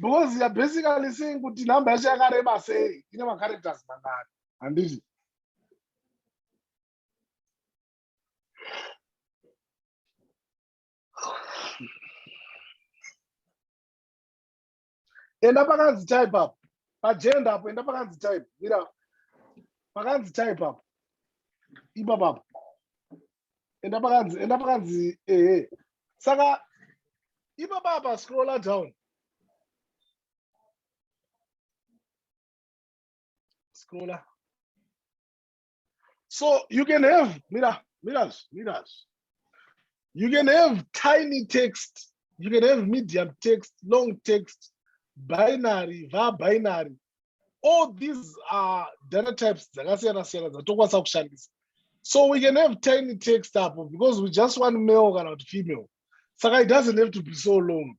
because you're basically saying kuti number yacho yakareba sei ine macharacters mangani handiti enda pakanzi type up pagenda apo enda pakanzi type mira pakanzi type up ipapapo enda pakanzi enda pakanzi ehe saka ipapa apa scrolla down scrolla so you can have mira miras miras you can have tiny text you can have medium text long text binary va binary all these are data types dzakasiyana siyana dzatokwanisa kushandisa so we can have tiny text apo because we just want male kana kuti female saka it doesn't have to be so long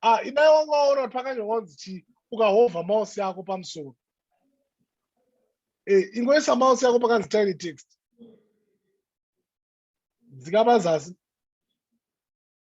ah inai wanga waona kuti pakanyorwa kunzi chii ukahovha mouse yako pamusoro eh, ingoisa mouse yako pakanzi tiny text dzikapa zasi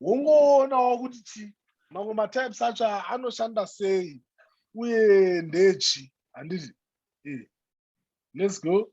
wongoonawo kuti chi mamwe matypes acho anoshanda sei uye ndechi handiti eh, let's go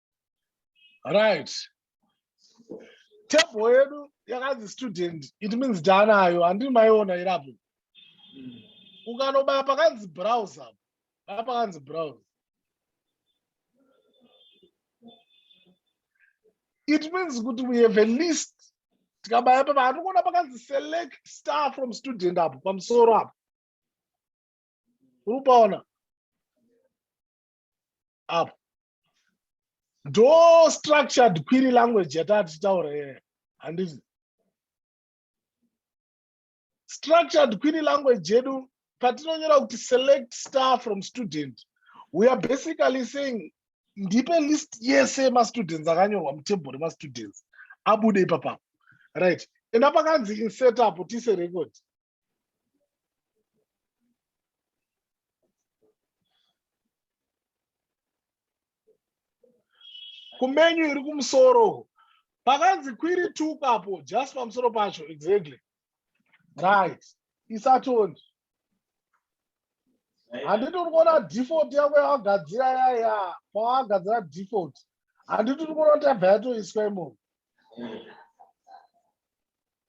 right table yedu yakanzi student it means taanayo handii maiona iri apo ukanobaya pakanzi browse apo baya pakanzi browse it means kuti we have a list tikabaya papa handikuona pakanzi select star from student apo pamusoro apo uri upaona apa ndo structured query language yataa tichitaura iyoyo handizi structured query language yedu patinonyora kuti select star from student we are basically saying ndipe list yese yemastudents akanyorwa mutable remastudents abude ipapapo right enda pakanzi insetapo tise record kumenyu iri kumusoro pakanzi kwiri tuka apo just pamusoro pacho exactly right isatoni handiti uri kuona default yako yawagadzira yaya pawagadzira default handiti uri kuona kuti yabva yatoiswa imomo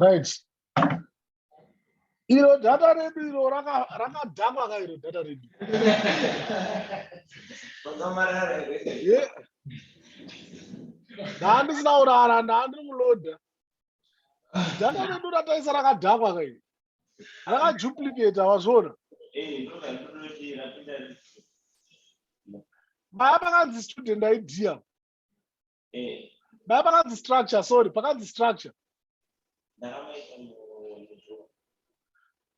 right iro data redu iro rakadhakwa ka iro data redu ndaandisina kurara ndaandiri kuloda data redu rataisa rakadhakwa ka iro rakaduplicata wazviona maya makanzi student idea eh. dai pakanzi structure sorry pakanzi structure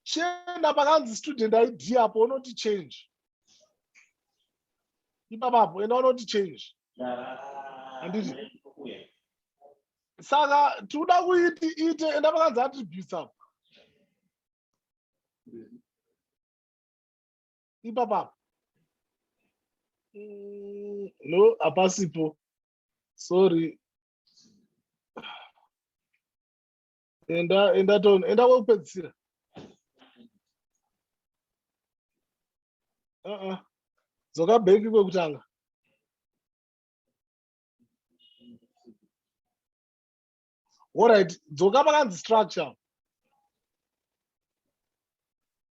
chienda pakanzi student id apo unoti change ipapapo enda unoti change handiti saka tikuda kuiti ite enda pakanzi attributes apo ipapo apo mm, no hapasipo sorry enda enda ton enda kwekupedzisira uh-uh. dzoka bheki kwekutanga orit dzoka pakanzi structure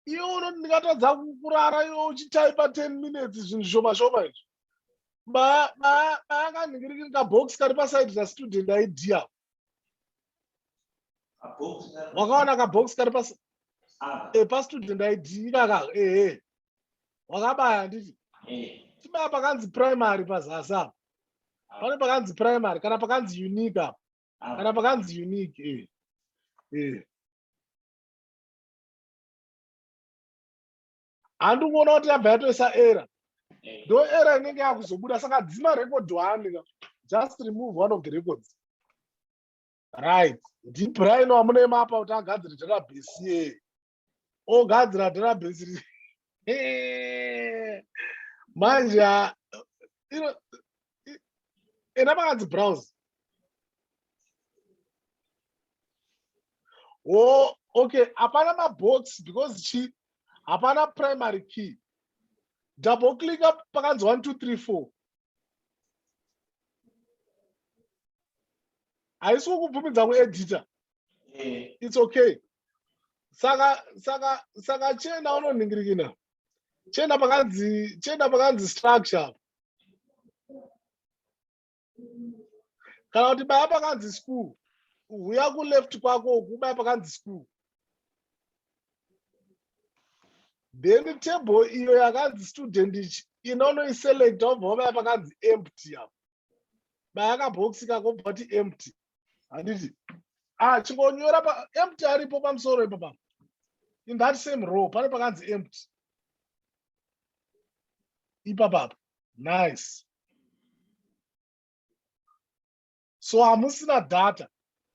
iwe unoti ndingatadza kurara iwe uchitaipa ten minutes zvinhu zvishoma shoma izvi baakandingirikiri kabox kari pasaidi rastudent aidia wakaona kabox kari pastudent ah. eh, id ikaka ehe wakabaya handiti eh. chibaya pakanzi primary pazasi apa pane pakanzi primary kana pakanzi unique apa ah. kana pakanzi unique eh. Eh. handi kuona kuti yabva yatoisa era eh. ndo era inenge yakuzobuda saka dzima record one just remove one of the records right ndibraino amunoema apa kuti agadzire database ye ogadzira database ri manje ha- ino- i- ena makanzi browse oh, okay hapana mabox because chi hapana primary key double click up pakanzi 1 2 3 4 haisi kukubvumidza kuedita eh. it's okay saka saka saka chena unonhingirikina chena pakanzi chena pakanzi structure kana kuti baya pakanzi school huya kuleft kwako uku ubaya pakanzi school then table iyo yakanzi student ichi inonoiselect obva ubaya pakanzi empty apo baya kabhokisi kako bati empty handiti ah chingonyora pa empty aripo pamusoro ipo pa in that same row pane pakanzi empty ipapapa nice so hamusina data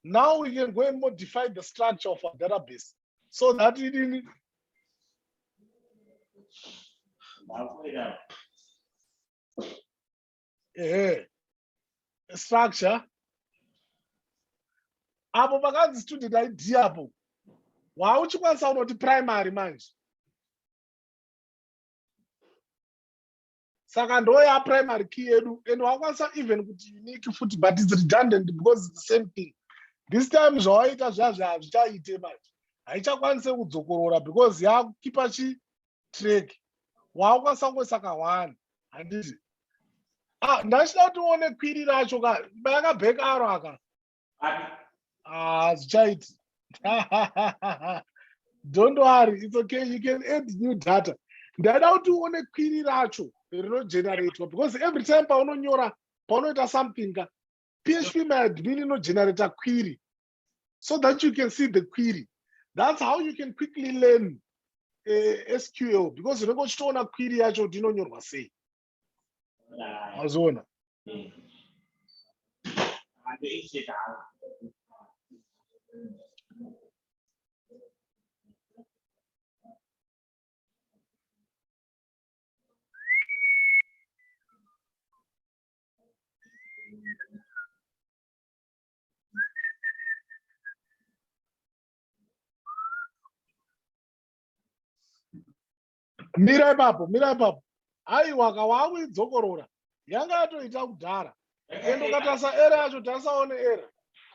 now we can go and modify the structure of our database so that it in ehe structure apo pakanzi student id apo wauchikwanisa unoti primary manje saka ndoya primary key yedu and wakwanisa even kuti unique futi but its redundant because its the same thing this time zvawaita zviya zviya hazvichaite manje haichakwanise kudzokorora because yakukipa chi track waakwanisa kungoisa kahwani handiti ah, ndachida kuti uone kwiri racho ka bayakabheka aro aka hazvichaiti ah, don't worry it's okay you can add new data ndaida kuti uone kwiri racho rinogeneratwa because every time paunonyora paunoita something ka php my admin inogenerata kwiri so that you can see the query that's how you can quickly learn uh, eh, sql because unenge uchitoona query yacho kuti inonyorwa sei mazoona mira ipapo mira ipapo aiwa ka waakuidzokorora yanga yatoita kudhara ende ukatarisa era yacho tarisaone era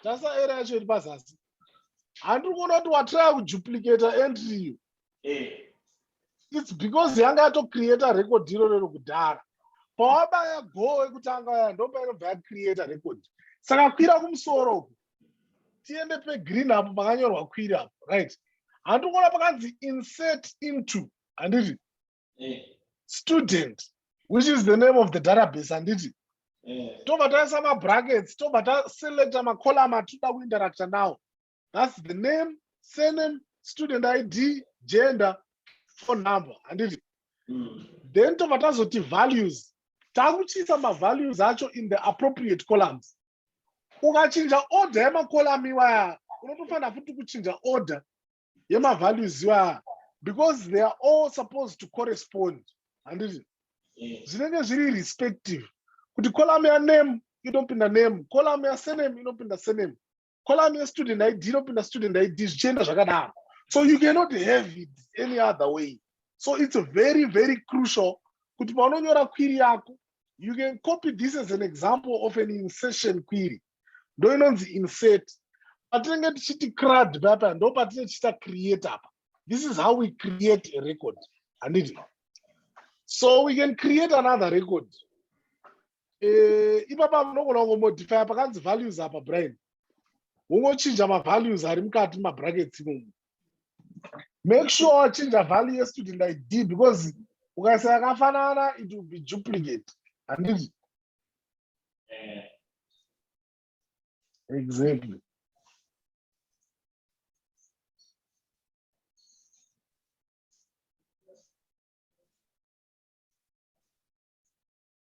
tarisa era yacho iri pazasi handiri kuona kuti watraya kuduplicata entry iyo its because yanga yatocreata record iro rero kudhara pawabaya goo wekutanga waya ndopainobva yacreata record saka kwira kumusoro uku tiende pegreen apo pakanyorwa kwira apo right handikuona pakanzi insert into handiti student which is the name of the database handiti tobva taisa mabrackets tobva taselecta macolum atoda kuinteracta nawo thats the name surname student id gender phone number handiti mm. then tobva tazoti values takuchiisa mavalues acho in the appropriate columns ukachinja order yemacolumn iwaya unotofanira futi kuchinja order yemavalues iwaya because they are all supposed to correspond handiti zvinenge zviri respective kuti column yaname inopinda name column yasename inopinda sename column yestudent id inopinda student id zvichienda zvakadaro so you cannot have it any other way so it's very very crucial kuti paunonyora query yako you can copy this as an example of an insertion query ndo inonzi insert patinenge tichiti crad papa ndo patinenge tichiita create apa this is how we create a record handiti so we can create another record Eh, ipapa unogona kungomodifya pakanzi values apa brian wongochinja mavalues ari mukati mumabrackets imomo make sure wachinja value yestudent id because ukaisa yakafanana it will be duplicate handiti exactly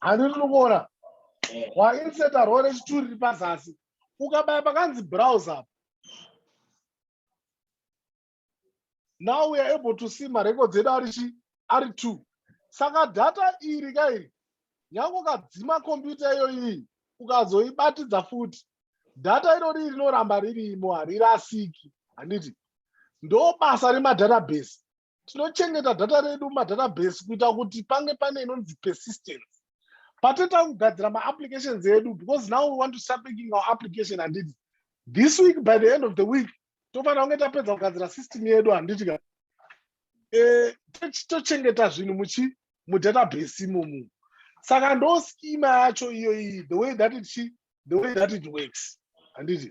handi rinokuona wainseta eh. rore chituri ri pazasi ukabaya pakanzi browse up now we are able to see marecords edu ari chi ari two saka data iri ka iri nyange ukadzima kombiyuta iyo iyi ukazoibatidza futi data irori rinoramba ririmo harirasiki handiti ndo basa remadatabase tinochengeta data redu mumadatabase kuita kuti pange pane inonzi persistence pateta kugadzira maapplications edu because now we want to start making our application handiti this week by the end of the week tofanira kunge tapedza kugadzira system yedu handiti ka eh, tochengeta zvinhu muchi mudatabase imomu saka ndo schema yacho iyoyi the way that it the way that it works handiti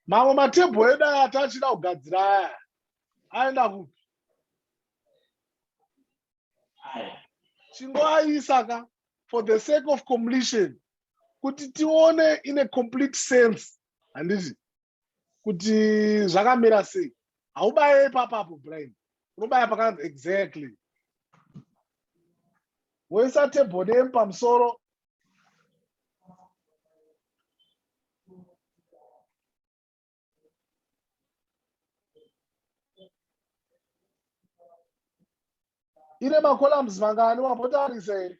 mamwe matebho edu aya atachida kugadzira aya aenda kupi chingoaisa ka for the sake of completion kuti tione in a complete sense handiti kuti zvakamira sei haubaye ipapapo brian unobaya pakanzi exactly woisa table name pamusoro ine macolumns mangani wambotarisa here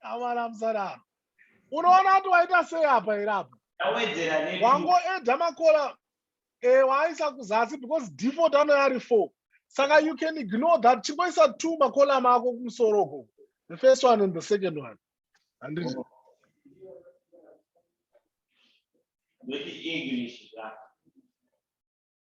amana musadaro unoona kuti waita sei apa here apa wangoedha makola e eh, waaisa kuzasi because default ano yari four saka you can ignore that chingoisa two makola mako kumusoro ko the first one and the second one handiti oh.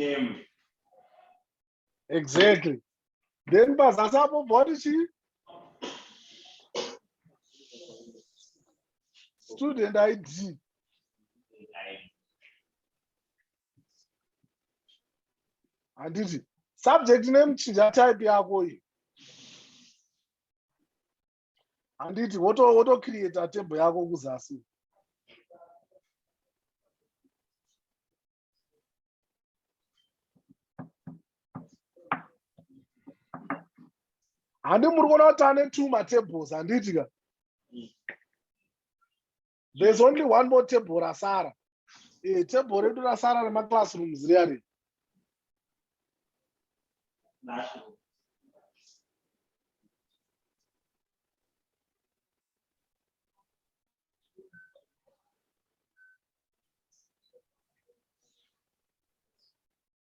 name exactly then pazasi apo bhoti chii student id handiti subject name chinja type yako iyi handiti wotocreata woto table yako kuzasi handi muri kuona kuti ane two matables handiti ka there's only one more table rasara eh, table redu rasara remaclassrooms riya ri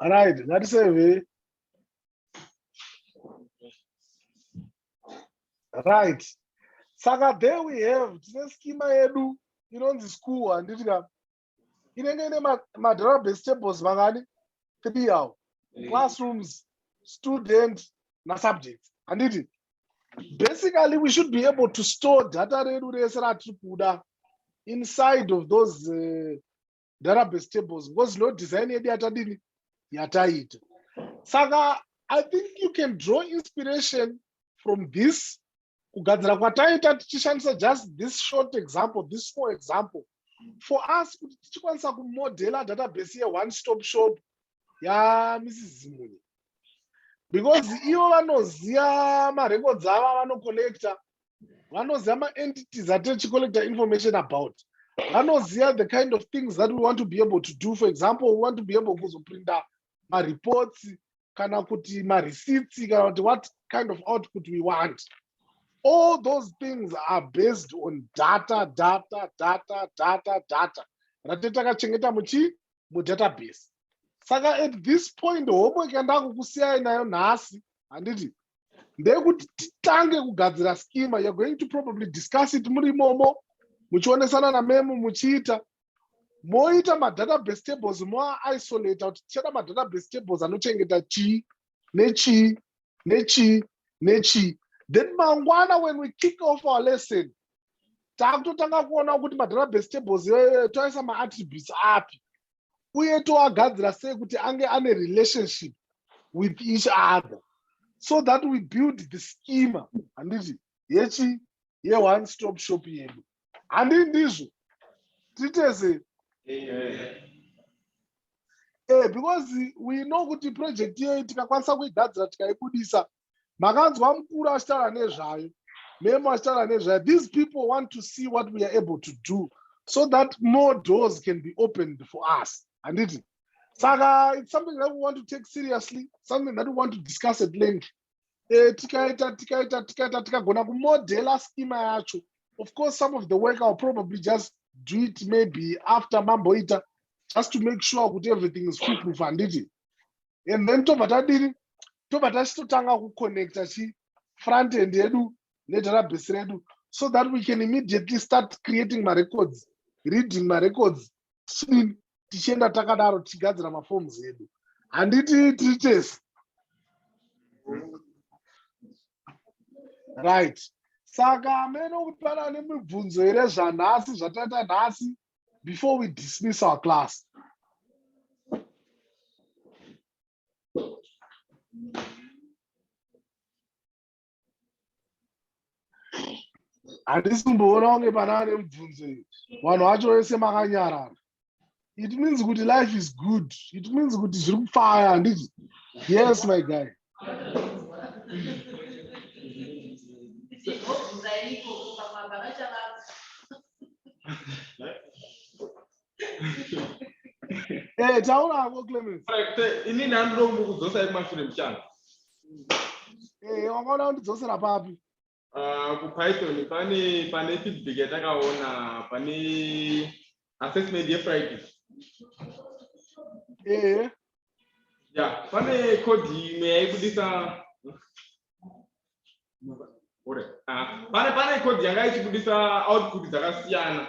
right ngatiseve right saka there we have tine skima yedu inonzi school handiti ka inenge ine madrabase tables makani three awo classrooms student nasubjects handiti basically we should be able to store data redu rese ratiri kuda inside of those uh, ndarabes tables ngozi no design yedu yatadini yataita saka i think you can draw inspiration from this kugadzira kwataita tichishandisa just this short example this small example for us kuti tichikwanisa kumodela database yeone stop shop yamrs zimunye because ivo vanoziva marecords ava vanocollecta vanoziva maentities atichicollecta information about vanoziva the kind of things that we want to be able to do for example we want to be able kuzoprinta mareports kana kuti mareceipt kana kuti what kind of output we want all those things are based on data data data data data ratete akachengeta muchii mudatabase saka at this point homework yandakukusiyai nayo nhasi handiti ndeyekuti titange kugadzira schema you're going to probably discuss it muri imomo muchionesana namemo muchiita moita madatabase tables moaisolata kuti tichada madatabase tables anochengeta chii nechii nechii nechii then mangwana when we kick off our lesson takutotanga kuona kuti madrabes tables iyoyo toisa maattributes api uye toagadzira sei kuti ange ane relationship with each other so that we build the schema handiti yechi ye one stop shop yedu handii ndizvo titese eh, because we know kuti project iyoyi tikakwanisa kuigadzira tikaibudisa makanzwa mukuru achitaura nezvayo memo achitaura nezvayo these people want to see what we are able to do so that more doors can be opened for us handiti saka it's something that we want to take seriously something that we want to discuss at length eh, tikaita tikaita tikaita tikagona kumodela schema yacho of course some of the work ill probably just do it maybe after mamboita just to make sure kuti everything is full proof handiti and then tobva tadini tobva tachitotanga kuconnecta chi front end yedu nedatabase redu so that we can immediately start creating marecords reading marecords tichidini tichienda takadaro tichigadzira mafomu edu handiti tiri tese right saka amene kuti pane ane mibvunzo here zvanhasi zvataita nhasi before we dismiss our class handisi kumboona kunge pana ane mubvunzo iyo vanhu vacho vese makanyarara it means kuti life is good it means kuti zviri kupfaya handizvo yes my guy Eh, taura hako clemens ini ndandoda kundokudzosa ekumashure muchana eh, wakaona kundidzosera papi ah, kupython pane pane feedback yatakaona pane assessment yefriday ehe ya pane code imwe yaibudisa ah, pane pane code yanga ichibudisa output dzakasiyana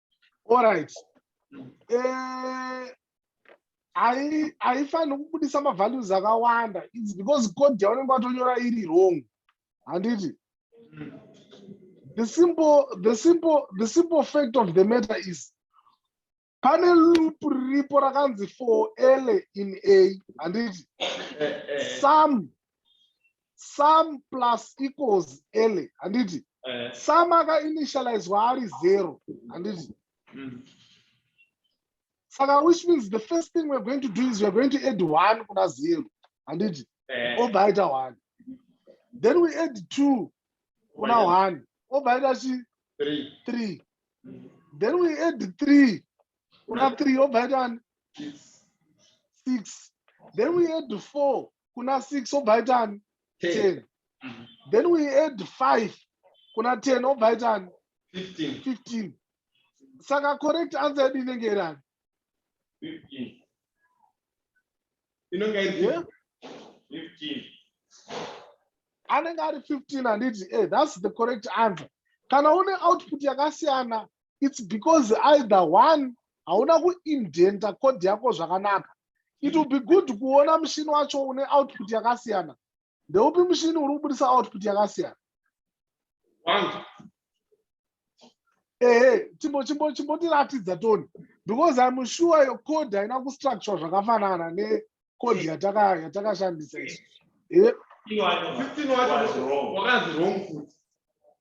Alright. Eh, I I find kubudisa ma values akawanda. It's because code yaunenge watonyora iri wrong. Handiti? Mm. The simple the simple the simple fact of the matter is pane loop riripo rakanzi for l in a handiti eh, eh, eh. some sum plus equals ele handiti eh. sum akainitializwa ari zero handiti mm. saka which means the first thing we're going to do is we're going to add one kuna zero handiti eh. obva aita one then we add two kuna one obva aita chi three mm. then we add three kuna three obva aita one six then we add four kuna six obva aita ani ten then we add five kuna ten obva aita ani fifteen saka correct answer yedu inenge iri ani inenge iri fifteen anenge ari 15 handiti e eh, thats the correct answer kana une output yakasiyana its because either one hauna kuindenta code yako zvakanaka it will be good kuona mushini wacho une output yakasiyana ndeupi mushini uri kubudisa output yakasiyana ehe chimbotiratidza toni because im sure your code haina kustructure zvakafanana necode yatakashandisa isu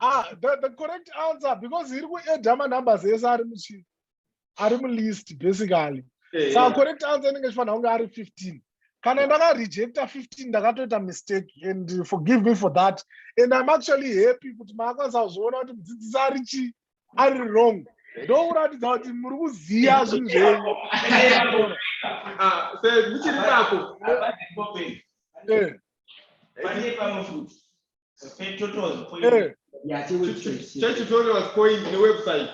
ah, the, the correct answer because iri kuedha manumbers ese ari muchi ari mulist basically eh, sa correct answer inenge chifanira kunge ari 15 kana ndakarejecta 15 ndakatoita mistake and forgive me for that and im actually happy kuti maakwanisa kuzviona kuti mudzidzisi ari chii ari wrong ndokuratidza kuti muri kuziva zvinhu zvenyu muchiri ipapo Eh. chetutorials point newebsite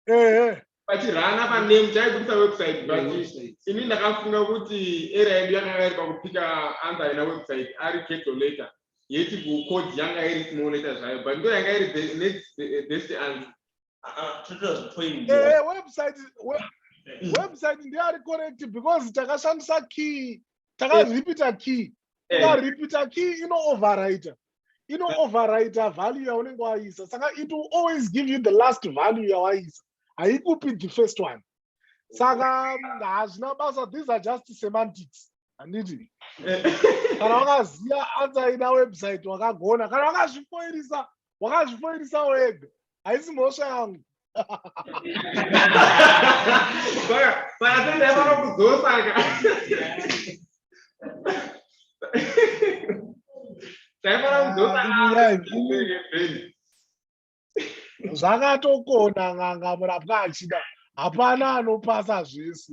ehe pachirana paname chaibudisa website but ini ndakafunga kuti era yedu yakanga iri pakupika anza haina website ari capital letter yeti kucode yanga iri small letter zvayo but ndo yanga iri be- next be- best answer ehe website we- website ndiyo ari correct because takashandisa key takaripita key eh. takaripita key ino overrider ino eh. overrider value yaunenge waisa saka it will always give you the last value yawaisa haikupi the first one saka hazvina basa these are just semantics handiti eh. kana wakaziva anza ina website wakagona kana wakazvifoirisa wakazvifoirisawo ega haisi mhosva yangu panatendai vanokudzosaka zvakatokona n'anga murapwa achida hapana anopasa zvese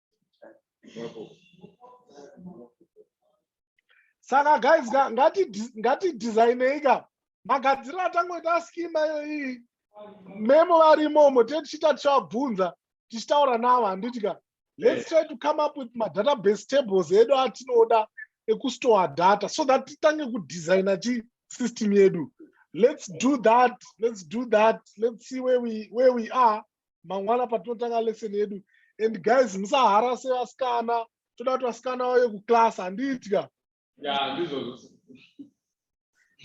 saka guys ngati ngati designei ka magadzirira tangoita schema iyoyi memo varimomo tee tichiita tichavabvunza tichitaura navo handiti ka let's try to come up with madatabase tables edu atinoda ekustore data so that titange kudesigna chi system yedu let's do that let's do that let's see where we, where we are mangwana patinotanga lesson yedu and guys musaharase vasikana toda kuti vasikana vauye kuclass handitya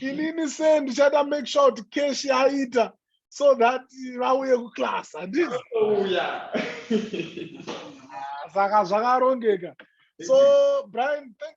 inini se ndichada make sure kuti cash yaita so that vauye kuclass handiti saka zvakarongeka so brian thank you